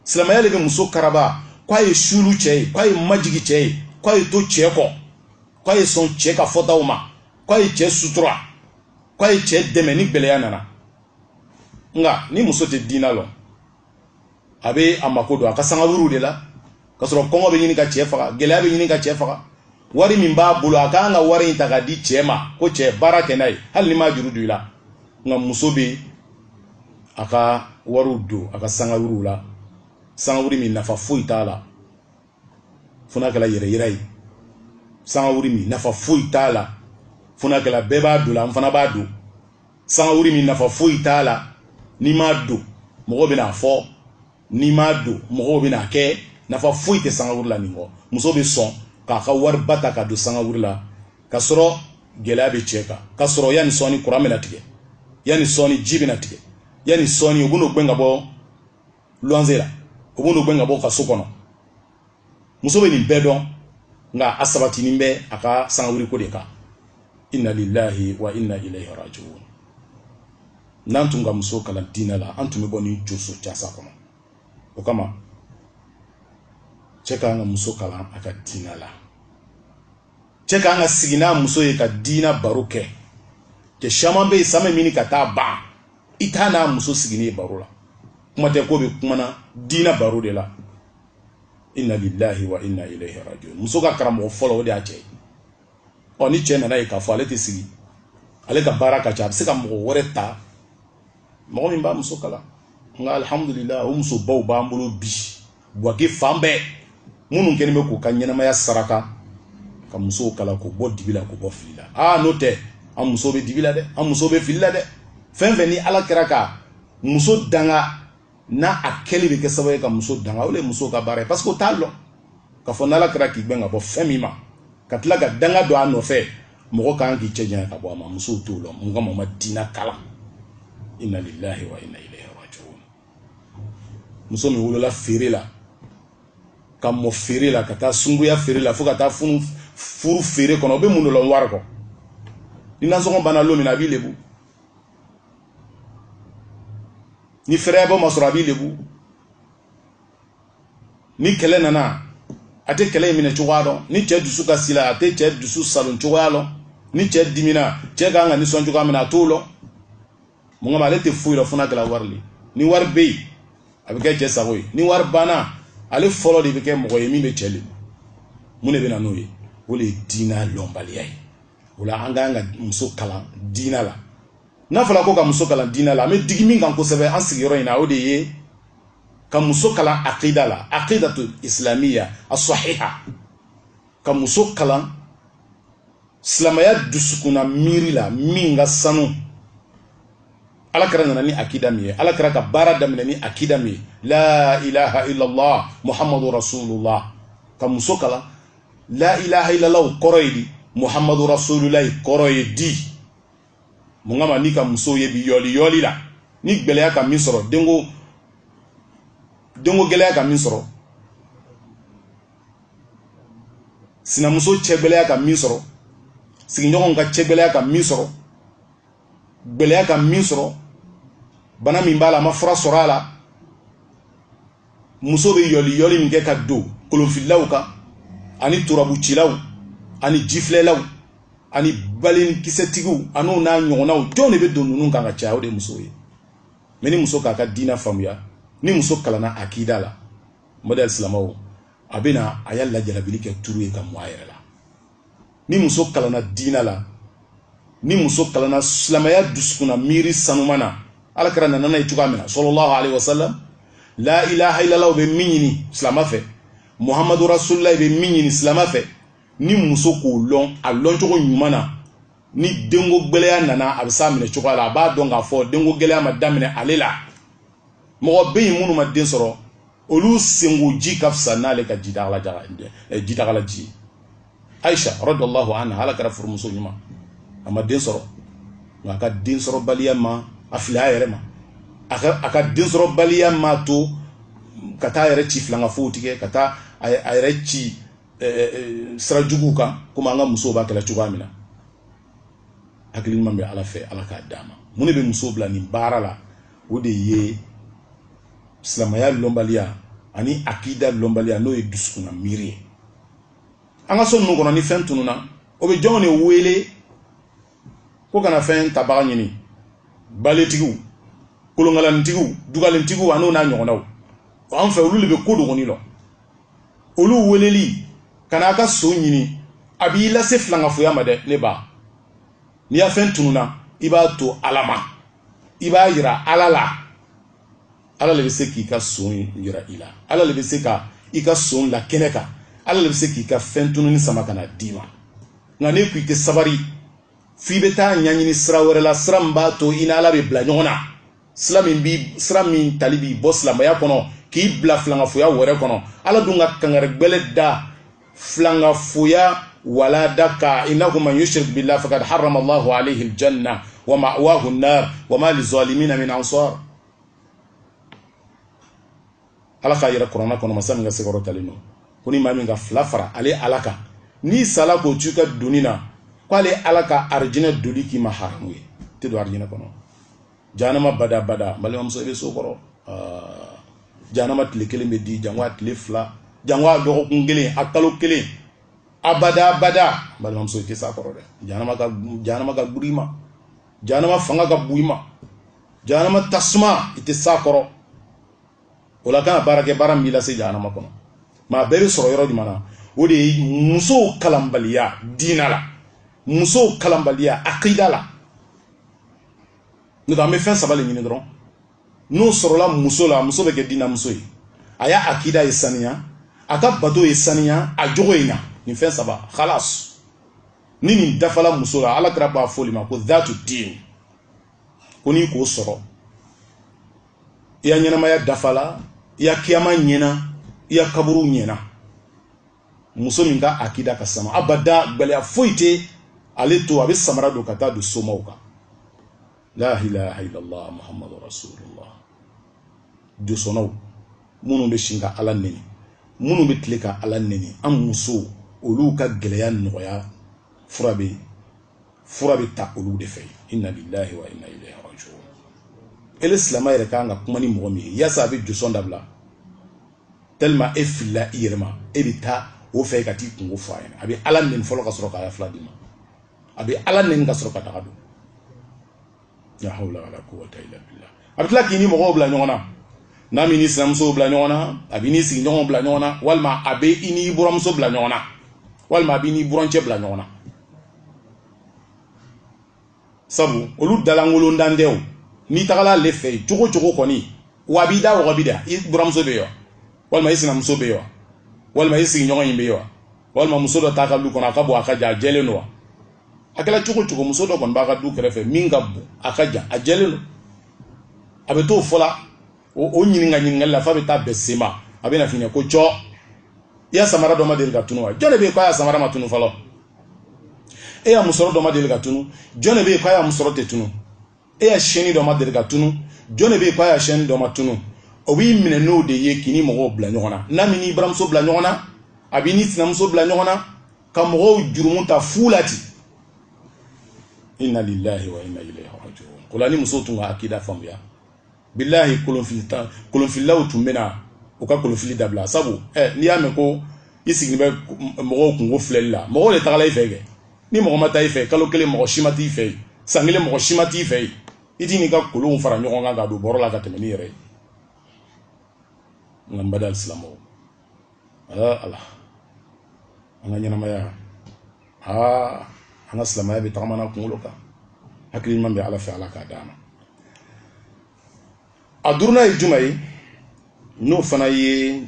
silamɛya de bɛ muso karaba k'a ye suulu cɛ ye k'a ye majigi cɛ ye k'a ye to cɛ kɔ k'a ye sɔn cɛ ka fɔtaw ma k'a ye cɛ sutura k'a ye cɛ dɛmɛ ni gɛlɛya nana nka ni muso tɛ diina lɔn a bɛ a mako don a ka sangaburuw de la ka sɔrɔ kɔngɔ bɛ ɲini ka cɛ faga gɛlɛya bɛ ɲini ka cɛ faga wari min b'a bolo a kan ka wari in ta k'a di cɛ ma ko cɛ baara kɛ n'a ye hali ni n b'a juru don i la nka muso bɛ a ka wariw don a ka sangawuriw la sangawuri min nafa foyi t'a la fo n'a kɛra yɛrɛ yira ye sangawuri min nafa foyi t'a la fo n'a kɛra bɛɛ b'a don la n fana b'a don sangawuri min nafa foyi t'a la n'i m'a don mɔgɔ bɛna a fɔ n'i m'a don mɔgɔw bɛna kɛ nafa foyi tɛ sangawuli la nin kɔ muso bɛ sɔn k'a ka wariba ta k'a don sangawuli la ka sɔrɔ gɛlɛya bɛ cɛ kan ka sɔrɔ yanni sɔɔni kuran bɛna tigɛ yanni sɔɔni ji bɛna tigɛ yanni sɔɔni u bɛn'o gɛn ka bɔ luwanze la u bɛn'o gɛn ka bɔ o ka so kɔnɔ muso bɛ nin bɛɛ dɔn nka a sabatinin bɛ a ka sangawuliko de kan inna lillahi wa inna ilayhi rajiun n'an tun ka muso kalan diinɛ la an tun bɛ bɔ nin joso jasa kɔnɔ o kama cɛ kan ka muso kalan a ka diinɛ la cɛ kan ka sigi n'a muso ye ka diinɛ baro kɛ cɛ caman bɛ yen san bɛ ɲini ka taa ban i t'a n'a muso sigilen baro la kuma tɛ k'o bɛ kuma na diinɛ baro de la inna lillahi wa inna ilayhi rajiun muso ka karamɔgɔ fɔlɔ o de y'a cɛ ye ɔ ni cɛ nan'a ye k'a fɔ ale tɛ sigi ale ka baara ka ca a bɛ se ka mɔgɔ wɛrɛ ta mɔgɔ min b'a muso kalan nka alhamdulillah o musobaw b'an bolo bi buwake fan bɛɛ minnu kɛlen bɛ k'u ka ɲɛnamaya saraka ka musow kalan k'u bɔ dibi la k'u bɔ fili la aa n'o tɛ an muso bɛ dibi la dɛ an muso bɛ fili la dɛ fɛn fɛn ni ala kɛra ka muso danga n'a kɛli bɛ kɛ sababu ye ka muso danga o de ye muso ka baara ye parce que o t'a lɔn k'a fɔ n'ala kɛra k'i gɛn ka bɔ fɛn min ma ka tila ka danga don a nɔfɛ mɔgɔ ka kan k'i cɛ janya ka bɔ a ma musow t'o lɔn mun kama u ma diina kalan inna lillahi wa inna ilayhi rajiun muso min wolola feere la ka mɔ feere la ka taa sunguya feere la fo ka taa funu furu feere kɔnɔ o bɛ mun de lɔn wari kɔ ni nasɔngɔ banna don min na a b'i lebu ni fɛrɛyabɔ ma sɔrɔ a b'i lebu ni kɛlɛ nana a tɛ kɛlɛ in minɛ cogoya dɔn ni cɛ dusukasila a tɛ cɛ dusu saalo cogoya dɔn ni cɛ dimina cɛ ka kan ka nisɔn cogoya min na a t'o lɔn mun kama ale tɛ foyi lɔn fo n'a kɛra wari le ni wari bɛ yen a bɛ kɛ cɛ sago ye ni wari banna ale fɔlɔ de bɛ kɛ mɔgɔ ye min bɛ cɛ lebu mun de bɛ na n'o ye o de ye diinɛ lɔnbaliya ye o la an ka kan ka muso kalan diinɛ la n'a fɔra ko ka muso kalan diinɛ la an bɛ digi min kan kosɛbɛ an sigiyɔrɔ in na o de ye ka muso kalan akida la akidatu isilamiya a sɔhiha ka muso kalan silamɛya dusukunna miiri la min ka sanu ala kira nana ni akida min ye ala kira ka baara daminɛ ni akida min ye la ilaha illallah muhammadu rasulullah ka muso kalan la ilaha illallah kɔrɔ ye di muhammadu rasulullah kɔrɔ ye di mun kama n'i ka muso ye bi yɔli yɔli la ni gɛlɛya ka min sɔrɔ denko denko gɛlɛya ka min sɔrɔ sinamuso cɛ gɛlɛya ka min sɔrɔ sigiɲɔgɔnw ka cɛ gɛlɛya ka min sɔrɔ gɛlɛya ka min sɔrɔ bana min b'a la a ma fura sɔrɔ a la muso bɛ yɔli yɔli min kɛ ka don kolonfililaw kan ani turabucilaw ani jifilɛlaw ani balenkisɛtigiw an'o n'a ɲɔgɔnnaw jɔn de bɛ don ninnu kan ka caya o de musow ye mɛ ni muso k'a ka diinɛ faamuya ni muso kalanna akida la n baden silamɛw a bɛ na a ya lajarabili kɛ turu ye ka mɔ a yɛrɛ la ni muso kalanna diina la ni muso kalanna silamɛya dusukunna miiri sanuman na ala kira nana n'a ye cogoya min na sallallahu alayhi wa sallam la ilaha illallah bɛ min ɲini silamɛ fɛ muhammadu rasulullah bɛ min ɲini silamɛ fɛ ni muso k'o lɔn a lɔncogo ɲuman na ni denko gɛlɛya nana a bɛ s'a minɛ cogoya la a b'a dɔn k'a fɔ denko gɛlɛya ma daminɛ ale la mɔgɔ bɛ yen minnu ma den sɔrɔ olu senko ji ka fisa n'ale ka jidagala ji ayisa radiyallahu anha ala kira furumuso ɲuman a ma den sɔrɔ nka a ka den sɔrɔbaliya ma a fili a yɛrɛ ma a ka den sɔrɔbaliya m'a to ka taa a yɛrɛ ci filankafow tigɛ ka taa a yɛrɛ ci sira juguw kan komi an ka musow b'a kɛla cogoya min na hakili ɲuman bɛ ala fɛ ala k'a d'an ma mun de bɛ muso bila nin baara la o de ye silamɛya lɔnbaliya ani akida lɔnbaliya n'o ye dusukunna miiri ye an ka so ninnu kɔnɔ ni fɛn tununna o bɛ jɔnw de wele ko ka na fɛn tabaga ɲini baletigiw kolonkalanitigiw dugalentigiw an'o n'a ɲɔgɔnnaw an fɛ olu de bɛ ko dogoni lɔn olu weleli ka n'a ka son ɲini a b'i lase filankafoya ma dɛ ne ba n'i ya fɛn tununna i b'a to ala ma i b'a yira ala la ala le bɛ se k'i ka son yira i la ala le bɛ se ka i ka son la kɛnɛ kan ala le bɛ se k'i ka fɛn tununi sama ka na d'i ma nka n'e ko i tɛ sabari f'i bɛ t'a ɲɛɲini sira wɛrɛ la sira min b'a to i ni ala bɛ bila ɲɔgɔn na sira min bi sira min tali b'i bɔ silamɛya kɔnɔ k'i bila filankafoya wɛrɛ kɔnɔ ala dun ka kangari gbɛlɛ da filankafoya walanda kan innahu man yushrik billah faqad harrama allahu alayhi aljanna wa ma'wahu an-nar wa ma lizalimina min ansar ala k'a yira kurana kɔnɔ masa min ka se kɔrɔtalen don ko ni maa min ka filan fara ale ala kan n'i sala k'o to i ka doni na k'ale ala ka arijinɛ doli k'i ma haramu ye i tɛ don arijinɛ kɔnɔ janama bada bada balimamuso i bɛ s'o kɔrɔ janama tile kelen bɛ di janko a tile fila janko a dɔgɔkun kelen a kalo kelen a bada bada balimamuso i tɛ s'a kɔrɔ dɛ janama ka gbiri i ma janama fanga ka bon i ma janama tasuma i tɛ s'a kɔrɔ o la kana baara kɛ baara min b'i lase janama kɔnɔ maa bɛɛ bɛ sɔrɔ yɔrɔ jumɛn na o de ye musow kalanbaliya diina la musow kalanbaliya akida la n'o tɛ an bɛ fɛn saba de ɲini dɔrɔn n'o sɔrɔla muso la muso bɛ kɛ diina muso ye a ya akida ye saniya a ka bato ye saniya a jogo ye ɲa nin fɛn saba halas ni nin dafala muso la ala kira b'a fɔ olu ma ko dhatu din ko n'i k'o sɔrɔ i ya ɲɛnamaya dafala i ya kiyama ɲɛna i ya kaburu ɲɛna muso min ka akida ka sani abada gbɛlɛya foyi tɛ ale to a bɛ samara don ka taa don somaw kan la ilaha illallah muhammadu rasulullah josɔnnaw minnu bɛ si ka ala neni minnu bɛ tile ka ala neni an musow olu ka gbɛlɛya nɔgɔya fura bɛ ta olu de fɛ inna lillahi wa inna ilayhi rajiun ele silamɛ yɛrɛ ka kan ka kuma ni mɔgɔ min ye yaasa a bɛ josɔn dabila tellement e filila i yɛrɛ ma e bɛ taa o fɛ ka t'i kunko fɔ a ɲɛna a bɛ ala neni fɔlɔ ka sɔrɔ k'a fila d'i ma a bɛ ala neni ka sɔrɔ ka daga don la hawla wala quwwata illa billah a bɛ tila k'i ni mɔgɔw bila ɲɔgɔn na n'a m'i n'i sinamusow bila ɲɔgɔn na a b'i n'i sigiɲɔgɔnw bila ɲɔgɔn na walima a bɛ i n'i buramuso bila ɲɔgɔn na walima a b'i n'i burancɛ bila ɲɔgɔn na sabu olu dalankolon dan tɛ o n'i tagala ale fɛ yen cogo cogo kɔni wa a b'i da wɔgɔbɛ dɛ i buramuso bɛ yen wa walima i sinamuso bɛ yen wa walima i sigiɲɔgɔn in bɛ yen wa walima muso dɔ t'a ka du kɔnɔ a ka bon a ka jan a jɛlen don wa a kɛla cogo cogo muso dɔ kɔni b'a ka du kɛrɛfɛ min ka bon a ka jan a jɛlen don a bɛ t'o fɔ la o o ɲininka ɲininkali la f'a bɛ taa bɛn sema a bɛna f'i ɲɛ ko jɔ i ya samara dɔ ma deli ka tunu wa jɔn de bɛ yen k'a ya samara ma tunu fɔlɔ e ya musɔrɔ dɔ ma deli ka tunu jɔn de bɛ yen k'a ya musɔrɔ tɛ tunu e ya shɛni dɔ ma deli ka tunu jɔn de bɛ yen k'a ya shɛni dɔ ma tunu o b'i minɛ n'o de ye k'i ni mɔgɔw bila ɲɔgɔn na n'a m'i n'i buranmuso bila ɲɔgɔn na a b'i ni sinamuso bila ɲɔgɔn na ka mɔgɔw jurumu ta fu la ten inna lillahi wa inna ilayhi raji'un o la ni muso tun ka akida faamuya bilahi kolonfili tan kolonfililaw tun bɛna u ka kolonfili dabila sabu ɛ eh, n'i y'a mɛn ko i sigilen bɛ mɔgɔw kunko filɛli la mɔgɔw le tagala i fɛ kɛ ni mɔgɔ ma taa i fɛ kalo kelen mɔgɔ si ma t'i fɛ yen san kelen mɔgɔ si ma t'i fɛ yen i tɛn'i ka kolonw fara ɲɔgɔn kan ka don bɔrɔ la ka tɛmɛ n'i yɛrɛ ye nka n baden silamɛw aa ala an ka ɲɛnamaya aa an ka silamɛya bɛ tagamana kunkolo kan hakili ɲuman bɛ ala fɛ ala k'a d'an ma a duurunan ye juman ye n'o fana ye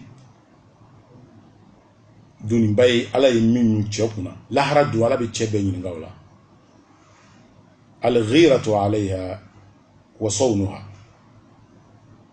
doniba ye ala ye min ɲun cɛw kun na lahara don ala bɛ cɛ bɛɛ ɲininka o la alghiratu alayha wa sawnuha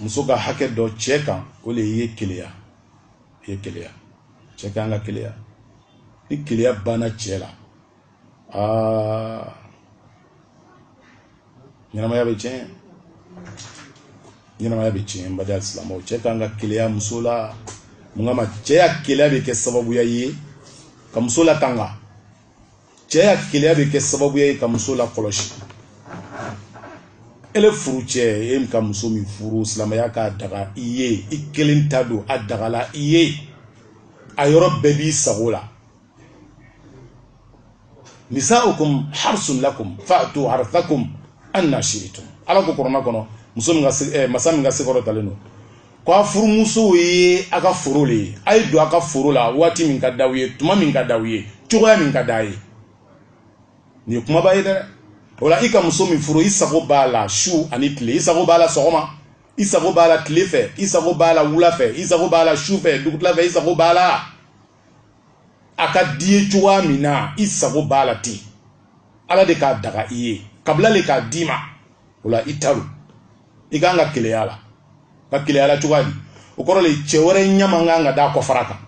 muso ka hakɛ dɔ cɛ kan o le ye keleya ye keleya cɛ ka kan ka keleya ni keleya banna cɛ la aa ɲɛnamaya bɛ tiɲɛ ɲɛnamaya bɛ tiɲɛ n baden alisilamɛw cɛ ka kan ka keleya muso la mun kama cɛ ya keleya bɛ kɛ sababuya ye ka muso latanga cɛ ya keleya bɛ kɛ sababuya ye ka muso lakɔlɔsi ele furucɛ e ka muso min furu silamɛya k'a daga i ye i kelen ta don a dagala i ye a yɔrɔ bɛɛ b'i sago la nisaukum harsun lakum fa'tu harthakum anna shi'tum ala ko kurana kɔnɔ muso min ka eh, masa min ka se kɔrɔtalen don ko a furumusow ye a ka foro le ye a ye don a ka foro la waati min ka d'aw ye tuma min ka d'aw ye cogoya min ka d'a ye nin ye kumaba ye dɛ o la i ka muso min furu i sago b'a la su ani tile i sago b'a la sɔgɔma i sago b'a la tile fɛ i sago b'a la wula fɛ i sago b'a la su fɛ dugutila fɛ i sago b'a la a ka d'i ye cogoya min na i sago b'a la ten ala de k'a daga i ye kabila le k'a d'i ma o la i ta don i kan ka keleya la ka keleya la cogoya di o kɔrɔ le cɛ wɛrɛ ɲɛ man kan ka d'a kɔfara kan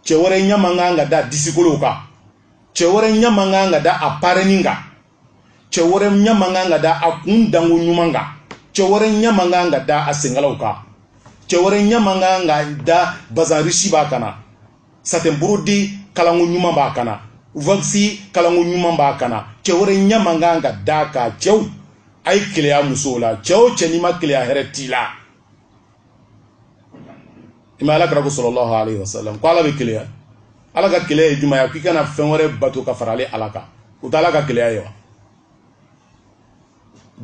cɛ wɛrɛ ɲɛ man kan ka d'a disikolow kan cɛ wɛrɛ ɲɛ man kan ka da a parɛni kan cɛ wɛrɛ ɲɛ man kan ka da a kun danko ɲuman kan cɛ wɛrɛ ɲɛ man kan ka da a senkalaw kan cɛ wɛrɛ ɲɛ man kan ka da bazan risi b'a kan na satɛn burudi kalanko ɲuman b'a kan na wakisi kalanko ɲuman b'a kan na cɛ wɛrɛ ɲɛ man kan ka d'a kan cɛw a ye keleya musow la cɛ o cɛ n'i ma keleya hɛrɛ t'i la i ma ala kira ko sɔlɔlɔhu alayhi wa sallam ko ala bɛ keleya ala ka keleya ye jumɛn ye k'i kana fɛn wɛrɛ bato ka fara ale ala kan o tɛ ala ka keleya ye wa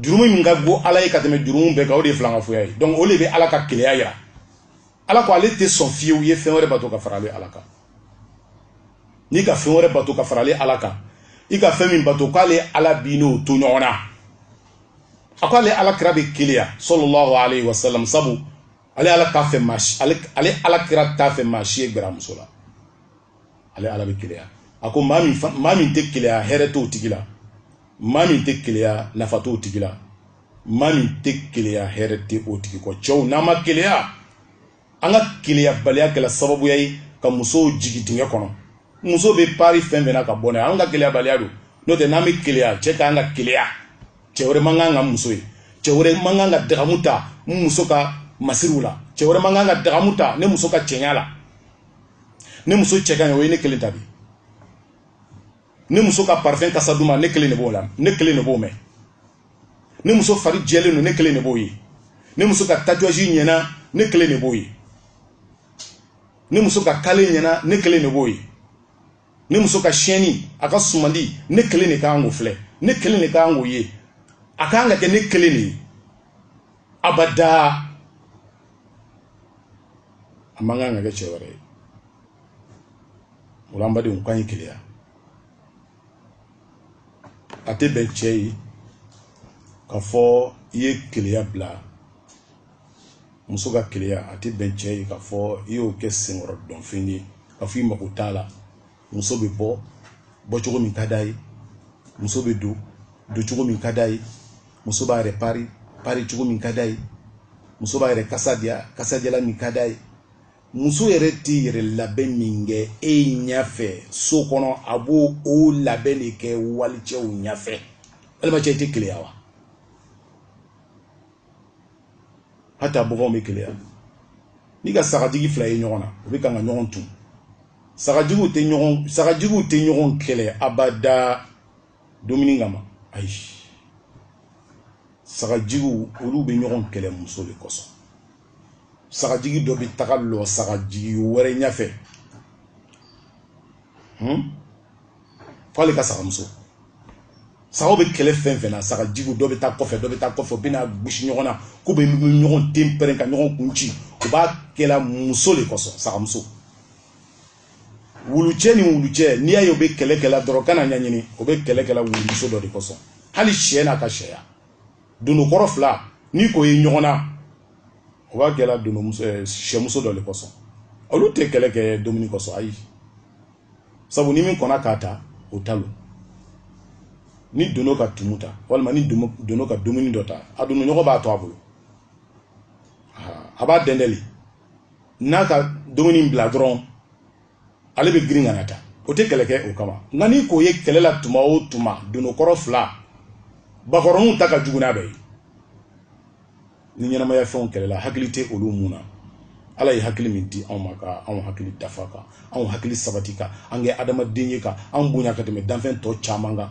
jurumu min ka go ala ye ka tɛmɛ jurumu bɛɛ kan o de ye filankafoya ye donc o de bɛ ala ka keleya yira ala ko ale tɛ sɔn fiyewu ye fɛn wɛrɛ bato ka fara ale ala kan n'i ka fɛn wɛrɛ bato ka fara ale ala kan i ka fɛn min bato k'ale ala b'i n'o to ɲɔgɔn na a ko ale ala kira bɛ keleya sɔlɔlɔhu alayhi wa sallam sabu ale ala t'a fɛ maa si ale ale ala kira t'a fɛ maa si ye gɛr'a muso la ale ala bɛ keleya a ko maa min maa min tɛ keleya hɛrɛ t'o tigi la maa min tɛ keleya nafa t'o tigi la maa min tɛ keleya hɛrɛ tɛ o tigi kɔ cɛw n'an ma keleya an ka keleyabaliya kɛla sababuya ye ka musow jigin dingɛ kɔnɔ muso bɛ pari fɛn o fɛn na ka bɔ n'a ye an ka keleyabaliya don n'o tɛ n'an bɛ keleya cɛ ka kan ka keleya cɛ wɛrɛ man kan ka n muso ye cɛ wɛrɛ man kan ka dagamu ta n muso ka masiriw la cɛ wɛrɛ man kan ka dagamu ta ne muso ka cɛɲa la ne muso cɛ ka ɲi o ye ne kelen ta de ye ne muso ka parfum kasa duman ne kelen de b'o la ne kelen de b'o mɛn ne muso fari jɛlen don ne kelen de b'o ye ne muso ka tatouage ɲɛna ne kelen de b'o ye ne muso ka kale ɲɛna ne kelen de b'o ye ne muso ka siyɛnni a ka sumandi ne kelen de kan k'o filɛ ne kelen de kan k'o ye a kan ka kɛ ne kelen de ye abada a man kan ka kɛ cɛ wɛrɛ ye o la n badenw k'an ye keleya a tɛ bɛn cɛ ye ka fɔ i ye keleya bila muso ka keleya a tɛ bɛn cɛ ye ka fɔ i y'o kɛ senkɔrɔdonfɛn ye ka fɔ i mako t'a la muso bɛ bɔ bɔcogo min ka d'a ye muso bɛ don doncogo min ka d'a ye muso b'a yɛrɛ pari paricogo min ka d'a ye muso b'a yɛrɛ kasa diya kasadiyalan min ka d'a ye muso yɛrɛ tɛ yɛrɛ labɛn min kɛ e ɲɛfɛ so kɔnɔ a b'o o labɛn de kɛ walicɛw ɲɛfɛ walima cɛ tɛ keleya wa hata baganw bɛ keleya n'i ka sagajigi fila ye ɲɔgɔn na u bɛ kan ka ɲɔgɔn tu sagajigiw tɛ ɲɔgɔn sagajigiw tɛ ɲɔgɔn kɛlɛ abada dumuni kama ayi sagajigiw olu bɛ ɲɔgɔn kɛlɛ muso de kosɔn sagajigi dɔ bɛ taga lɔ sagajigi wɛrɛ ɲɛfɛ hmm? f'ale ka sagamuso sagaw bɛ kɛlɛ fɛn fɛn na sagajigiw dɔ bɛ taa kɔfɛ dɔ bɛ taa kɔfɛ u bɛ na gosi ɲɔgɔn na k'u bɛ ɲɔgɔn ten pɛrɛn ka ɲɔgɔn kun ci u b'a kɛla muso de kosɔn sagamuso wulucɛ ni wulucɛ n'i y'a ye u bɛ kɛlɛ kɛla dɔrɔn kan'a ɲɛɲini u bɛ kɛlɛ kɛla wulumuso dɔ de kosɔn hali sɛ n'a ka sɛya donokɔrɔ fila n'i k'o ye ɲɔgɔn na o b'a kɛla eh, sɛmuso dɔ de kosɔn olu tɛ kɛlɛ kɛ dumuni kosɔn ayi sabu ni min kɔnna k'a ta o ta lo ni dono ka tumu ta walima ni dono ka dumuni dɔ ta a donoɲɔgɔn b'a to a bolo a b'a dɛndɛ le n'a ka dumuni bila dɔrɔn ale bɛ girin ka n'a ta o tɛ kɛlɛ kɛ o kama nka n'i k'o ye kɛlɛ la tuma o tuma donokɔrɔ fila bakɔrɔninw ta ka jugu n'a bɛɛ ye ni ɲɛnamaya fɛnw kɛlɛla hakili tɛ olu mun na ala ye hakili min di anw ma ka anw hakili dafa ka anw hakili sabati k'an kɛ adamaden ye ka anw bonya ka tɛmɛ danfɛn tɔ caman kan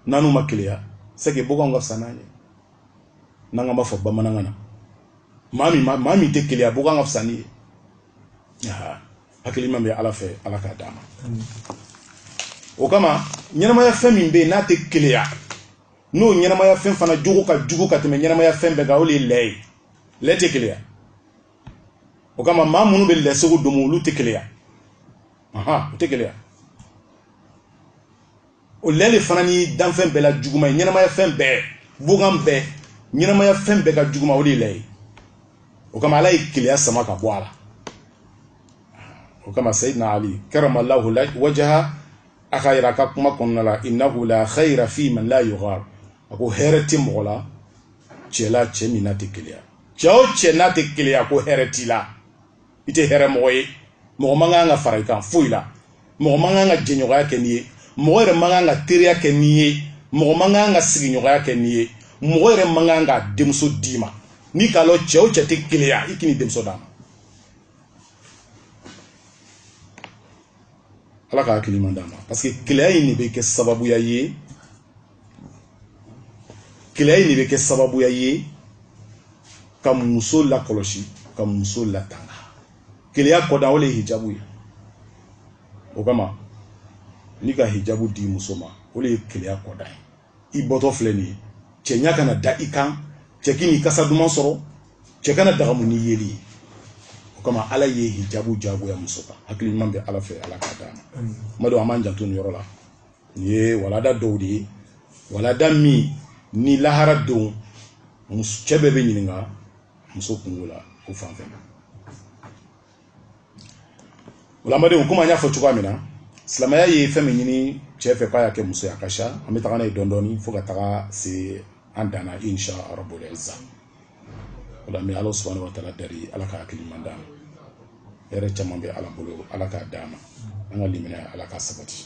n'anw ma keleya c'est que boganw ka fisa n'an ye n'an ka b'a fɔ bamanankan na maa min maa min tɛ keleya bogan ka fisa n'i ye hakili ɲuman bɛ ala fɛ ala k'a d'an ma o kama ɲɛnamaya fɛn min bɛ yen n'a tɛ keleya n'o ɲɛnamaya fɛn fana jogo ka jugu ka tɛmɛ ɲɛnamaya fɛn bɛɛ kan o de ye lɛ ye lɛ tɛ keleya o kama maa minnu bɛ lɛsogo domo olu tɛ keleya u tɛ keleya o lɛ de fana ni danfɛn bɛɛ la juguma ye ɲɛnamaya fɛn bɛɛ bogan bɛɛ ɲɛnamaya fɛn bɛɛ ka juguma o de ye lɛ ye o kama ala ye keleya sama ka bɔ a la o kama sayidina ali karamallahu wajaha a k'a yira a ka kuma kɔnɔna la innahu la khayra fi man la yughar a ko hɛrɛ tɛ mɔgɔ la cɛ la cɛ min n'a tɛ keleya cɛ o cɛ n'a tɛ keleya ko hɛrɛ t'i la i tɛ hɛrɛ mɔgɔ ye mɔgɔ man kan ka fara i kan foyi la mɔgɔ man kan ka jɛɲɔgɔnya kɛ n'i ye mɔgɔ yɛrɛ man kan ka teriya kɛ n'i ye mɔgɔ man kan ka sigiɲɔgɔnya kɛ n'i ye mɔgɔ yɛrɛ man kan ka denmuso d'i ma n'i k'a lɔn cɛ o cɛ tɛ keleya i kan'i denmuso d'a ma ala ka hakili ɲuman d'an ma parce que keleya in de bɛ kɛ sababuya ye keleya in de bɛ kɛ sababuya ye ka muso lakɔlɔsi ka muso latanga keleya kɔdan o le ye hijabu ye o kama n'i ka hijabu di muso ma o le ye keleya kɔdan ye i bɔtɔ filɛ nin ye cɛ ɲa kana da i kan cɛ kan'i kasa duman sɔrɔ cɛ kana dagamu n'i yeli ye o kama ala ye hijabu jagoya muso kan hakili ɲuman bɛ ala fɛ ala k'a d'an ma ma don an b'an janto nin yɔrɔ la nin ye walada dɔw de ye walada min ni lahara don cɛ bɛɛ bɛ ɲininka muso kunko la o fan fɛ o la n badenw komi an y'a fɔ cogoya min na silamɛya ye fɛn min ɲini cɛ fɛ k'a y'a kɛ muso ye a ka ca an bɛ taga n'a ye dɔɔnin dɔɔnin fo ka taga se a dan na insha rabbul izza ola n bɛ ala subhanahu wa taala dari ala ka hakili ɲuman d'an ma hɛrɛ caman bɛ ala bolo ala k'a d'an ma an ka limaniya ala k'a sabati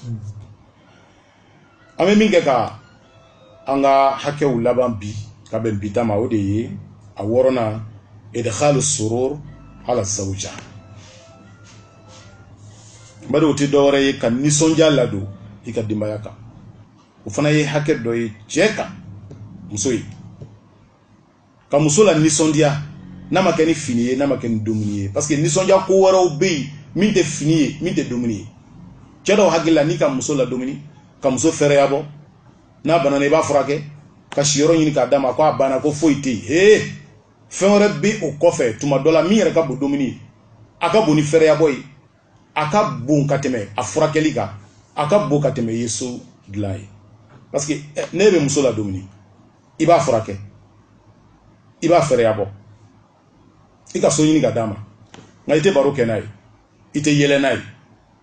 an bɛ min kɛ ka an ka hakɛw laban bi ka bɛn bi ta ma o de ye a wɔɔrɔnan idkhalu surur ala zawja bari o tɛ dɔwɛrɛ ye ka nisɔndiya ladon i ka denbaya kan o fana ye hakɛ dɔ ye cɛ kan muso ye ka muso lanisɔndiya n'a ma kɛ ni fini ye n'a ma kɛ ni dumuni ye parce que nisɔndiya ko wɛrɛw bɛ yen min tɛ fini ye min tɛ dumuni ye cɛ dɔw hakili la n'i ka muso ladumuni ka muso fɛrɛya bɔ n'a banana i b'a furakɛ ka siyɔrɔ ɲini k'a d'a ma ko a banna ko foyi tɛ yen hee fɛn wɛrɛ bɛ o kɔfɛ tuma dɔ la min yɛrɛ ka bon dumuni ye a ka bon ni fɛrɛya bɔ ye a ka bon ka tɛmɛ a furakɛli kan a ka bon ka tɛmɛ i ye so dilan ye parce que eh, n'i bɛ muso ladumuni i b'a furakɛ i b'a fɛɛrɛya bɔ i ka so ɲini k'a d'a ma nka i tɛ baro kɛ n'a ye i tɛ yɛlɛ n'a ye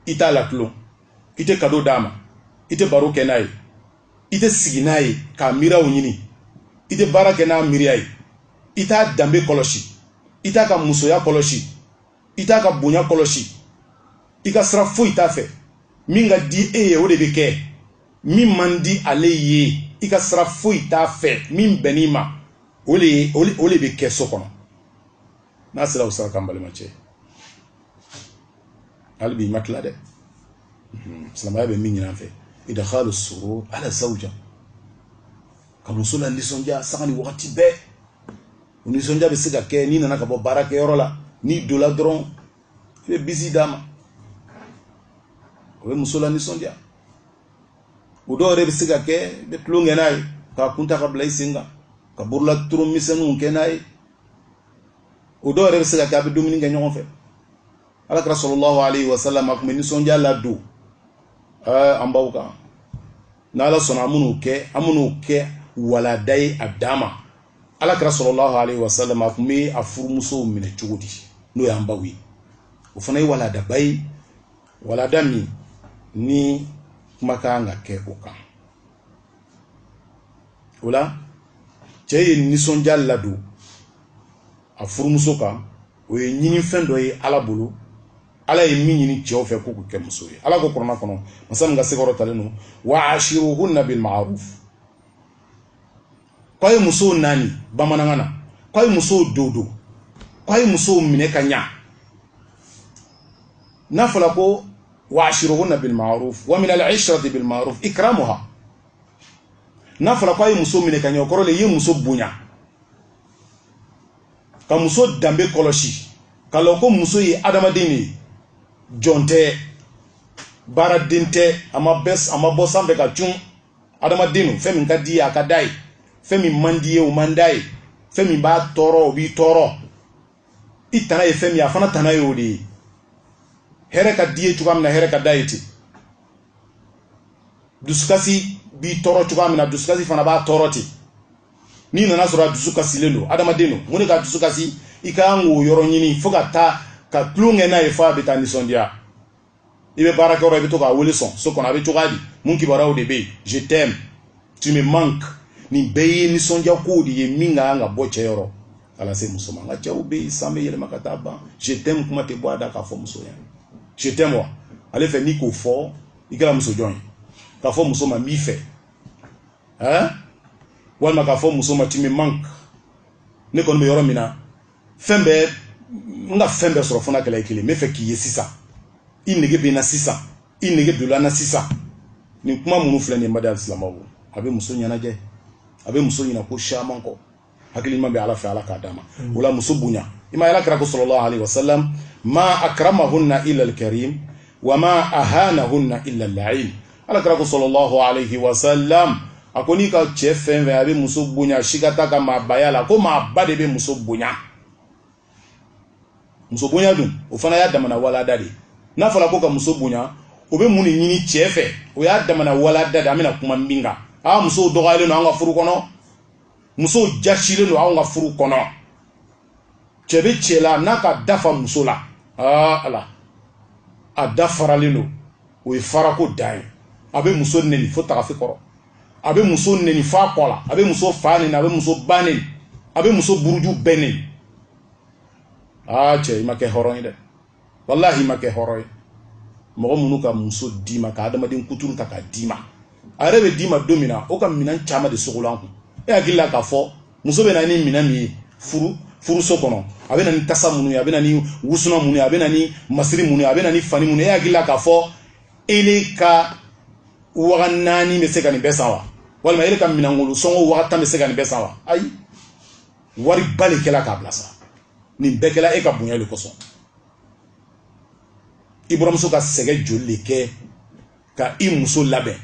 i t'a latulon i tɛ kado d'a ma i tɛ baro kɛ n'a ye i tɛ sigi n'a ye k'a miiraw ɲini i tɛ baara kɛ n'a miiriya ye i t'a danbe kɔlɔsi i t'a ka musoya kɔlɔsi i t'a ka bonya kɔlɔsi i ka sira foyi t'a fɛ min ka di e ye o de bɛ kɛ min man di ale ye i ka sira foyi t'a fɛ min bɛnn'i ma o de bɛ kɛ so kɔnɔ n'a sera o sira kan balimacɛ hali bi i ma tila dɛ mhm. silamɛya bɛ min ɲini an fɛ idkhalu surur ala zawja ka muso lanisɔndiya sanga ni wagati bɛɛ o nisɔndiya bɛ se ka kɛ n'i nana ka bɔ baarakɛyɔrɔ la n'i dola dɔrɔn i bɛ bisi d'a ma o bɛ muso lanisɔndiya o dɔw yɛrɛ bɛ se ka kɛ i bɛ tulon kɛ n'a ye k'a kun ta k'a bila i sen kan ka bolola tulon misɛnninw kɛ n'a ye o dɔw yɛrɛ bɛ se ka kɛ a bɛ dumuni kɛ ɲɔgɔn fɛ ala kira sallallahu alayhi wa sallam a tun bɛ nisɔndiya ladon an baw kan n'ala sɔnna an bɛn'o kɛ an bɛn'o kɛ walada ye a dan ma ala kira sallallahu alayhi wa sallam a tun bɛ a furumusow minɛ cogo di n'o y'an baw ye o fana ye waladaba ye walada min ni kuma ka kan ka kɛ o kan o la cɛ ye nisɔndiya ladon a furumuso kan o ye ɲinifɛn dɔ ye ala bolo ala ye min ɲini cɛw fɛ k'u kɛ muso ye ala ko kuranɛ kɔnɔ masa min ka se kɔrɔtalen don wa ashiruhunna bil ma'ruf k'a ye musow naani bamanankan na k'a ye musow dodo k'a ye musow minɛ ka ɲa n'a fɔla ko wa ashiruhunna bil ma'ruf wa min al ishrati bil ma'ruf ikramuha n'a fɔla k'a ye muso minɛ ka ɲa o kɔrɔ le i ye muso bonya ka muso danbe kɔlɔsi ka lɔn ko muso ye adamaden de ye jɔn tɛ baaraden tɛ a ma bɔ sanfɛ ka cun adamaden don fɛn min ka d'i ye a ka d'a ye fɛn min man d'i ye o man d'a ye fɛn min b'a tɔɔrɔ o b'i tɔɔrɔ i tana ye fɛn min ye a fana tana ye o de ye hɛrɛ ka d'i ye cogoya min na hɛrɛ ka d'a ye ten dusukasi b'i tɔɔrɔ cogoya min na dusukasi fana b'a tɔɔrɔ ten n'i nana sɔrɔ a dusu kasilen don adamaden don mun de k'a dusu kasi i ka kan k'o yɔrɔ ɲini fo ka taa ka tulon kɛ n'a ye fo a bɛ taa nisɔndiya i bɛ baarakɛyɔrɔ i bɛ to k'a wele sɔn so kɔnɔ a bɛ cogoya di mun kibaruyaw de bɛ yen je t'aime tu me manques nin bɛɛ ye nisɔndiya kow de ye min ka kan ka bɔ cɛ yɔrɔ ka na se muso ma nka cɛw bɛ yen san bɛ yɛlɛma ka taa ban je t'aime kuma tɛ bɔ a da k'a fɔ muso ɲɛna je t'aime wa ale fɛ n'i k'o fɔ i kɛra muso jɔn ye k'a fɔ muso ma n b'i fɛ eh? walima k'a fɔ muso ma tu me manques ne kɔni bɛ yɔrɔ min na fɛn bɛɛ n ka fɛn bɛɛ sɔrɔ fo n'a kɛla i kelen n b'a fɛ k'i ye sisan i nege bɛ n na sisan i nege donna n na sisan nin kuma minnu filɛ nin ye n baden alisilamɛw a bɛ muso ɲɛnajɛ a bɛ muso ɲina ko caman kɔ hakili ɲuman bɛ ala fɛ ala k'a d'an ma o la muso bonya i ma ala kira ko sallallahu alayhi wa sallam ma akramahunna illa alkarim wa ma ahanahunna illa al-la'in ala kira ko sallallahu alayhi wa sallam a ko n'i ka cɛ fɛn fɛn a bɛ muso bonya sika t'a ka maabaya la ko maaba de bɛ muso bonya muso bonya dun o fana y'a damana walada de ye n'a fɔra ko ka muso bonya o bɛ mun de ɲini cɛ fɛ o y'a damana walada de ye an bɛna kuma min kan aa musow dɔgɔyalen don an ka furu kɔnɔ musow jasilen don anw ka furu kɔnɔ cɛ bɛ cɛ la n'a k'a da fa muso la aa ala a da faralen don o ye farako dan ye a bɛ muso neni fo tagafe kɔrɔ a bɛ muso neni fo a kɔ la a bɛ muso fa neni a bɛ muso ba neni a bɛ muso buruju bɛɛ neni aa cɛ i ma kɛ hɔrɔn ye dɛ walahi i ma kɛ hɔrɔn ye mɔgɔ minnu ka muso d'i ma ka adamaden kuturu ta k'a d'i ma a yɛrɛ bɛ d'i ma don min na o ka minɛn caman de sogolon a kun e hakili la k'a fɔ muso bɛ na ni minɛn min ye furuso kɔnɔ a bɛ na ni tasa minnu ye a bɛ na ni wusunan minnu ye a bɛ na ni masiri minnu ye a bɛ na ni fani minnu ye e hakili la k'a fɔ ele ka waga naani bɛ se ka nin bɛɛ san wa walima ele ka minɛnkolo sɔngɔ waga tan bɛ se ka nin bɛɛ san wa ayi wariba de kɛla k'a bila sa nin bɛɛ kɛla e ka bonya de kosɔn i buramuso ka sɛgɛ joli de kɛ ka i muso labɛn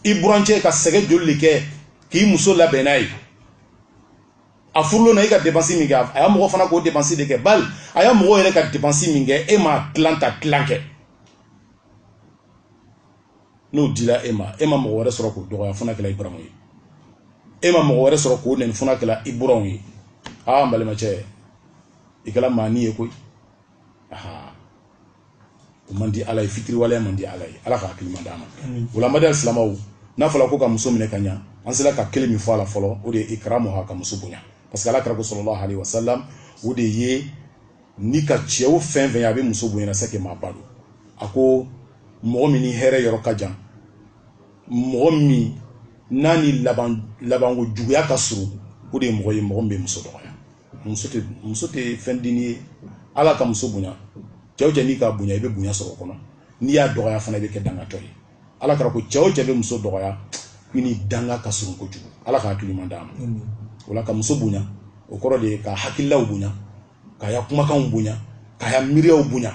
i burancɛ ka sɛgɛ joli de kɛ k'i muso labɛn n'a ye a furulon na i ka depansi min kɛ a y'a mɔgɔ fana k'o depansi de kɛ bali a y'a mɔgɔ yɛrɛ ka depansi min kɛ e m'a tilan ta tilan kɛ n'o dila e ma e ma mɔgɔ wɛrɛ sɔrɔ k'o dɔgɔya fo n'a kɛla i buramu ye e ma mɔgɔ wɛrɛ sɔrɔ k'o nɛni fo n'a kɛla i buranw ye aa n balimacɛ i kɛla maani ye koyi aa o man di ala ye fitiriwaleya man di ala ye ala ka hakili ɲuman d'an ma o la n baden alisilamɛw n'a fɔla ko ka muso minɛ ka ɲa an sera ka kelen min fɔ a la fɔlɔ o de ye ikramuha ka muso bonya parce que ala kira ko sallallahu alaihi wasallam o de ye ni ka cɛw fɛn fɛn a bɛ muso bonya c'est que maaba don a ko mɔgɔ min ni hɛrɛ yɔrɔ ka jan mɔgɔ min n'a ni labanko juguya ka surun o de ye mɔgɔ ye mɔgɔ min bɛ muso dɔgɔya muso muso tɛ fɛn dennin ye ala ka muso bonya cɛ o cɛ n'i k'a bonya i bɛ bonya sɔrɔ o kɔnɔ n'i y'a dɔgɔya fana i bɛ kɛ dangatɔ ye ala kira ko cɛ o cɛ bɛ muso dɔgɔya i ni danga ka surun kojugu ala ka hakili ɲuman d'an ma o la ka muso bonya o kɔrɔ de ye k'a hakililaw bonya k'a ya kumakanw bonya k'a ya miiriyaw bonya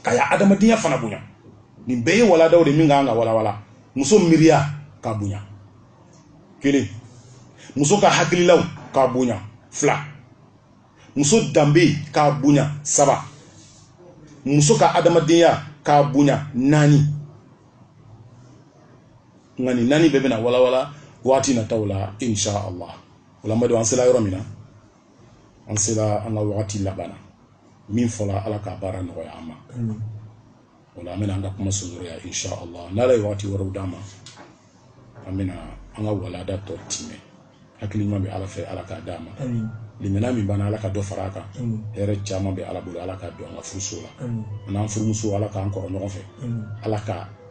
k'a ya adamadenya fana bonya nin bɛɛ ye waladaw de min ka kan ka walawala muso miiriya k'a bonya kelen muso ka hakililaw k'a bonya fila muso danbe k'a bonya saba muso ka adamadenya k'a bonya naani nka nin naani bɛɛ bɛna walawala waati nataw la insha allah o la n baden an sela yɔrɔ min na an sela an ka waati laban na min fɔla ala k'a baara nɔgɔya an ma o la an bɛna an ka kuma surunya insha allah n'ala ye waati wɛrɛw d'an ma an bɛna an ka walada tɔ tiimɛ hakili ɲuman bɛ ala fɛ ala k'a d'an ma limaniya min b'an na ala ka dɔ fara a kan hɛrɛ caman bɛ ala bolo ala k'a don an ka furuso la an n'an furumuso ala k'an kɔrɔ ɲɔgɔn fɛ ala ka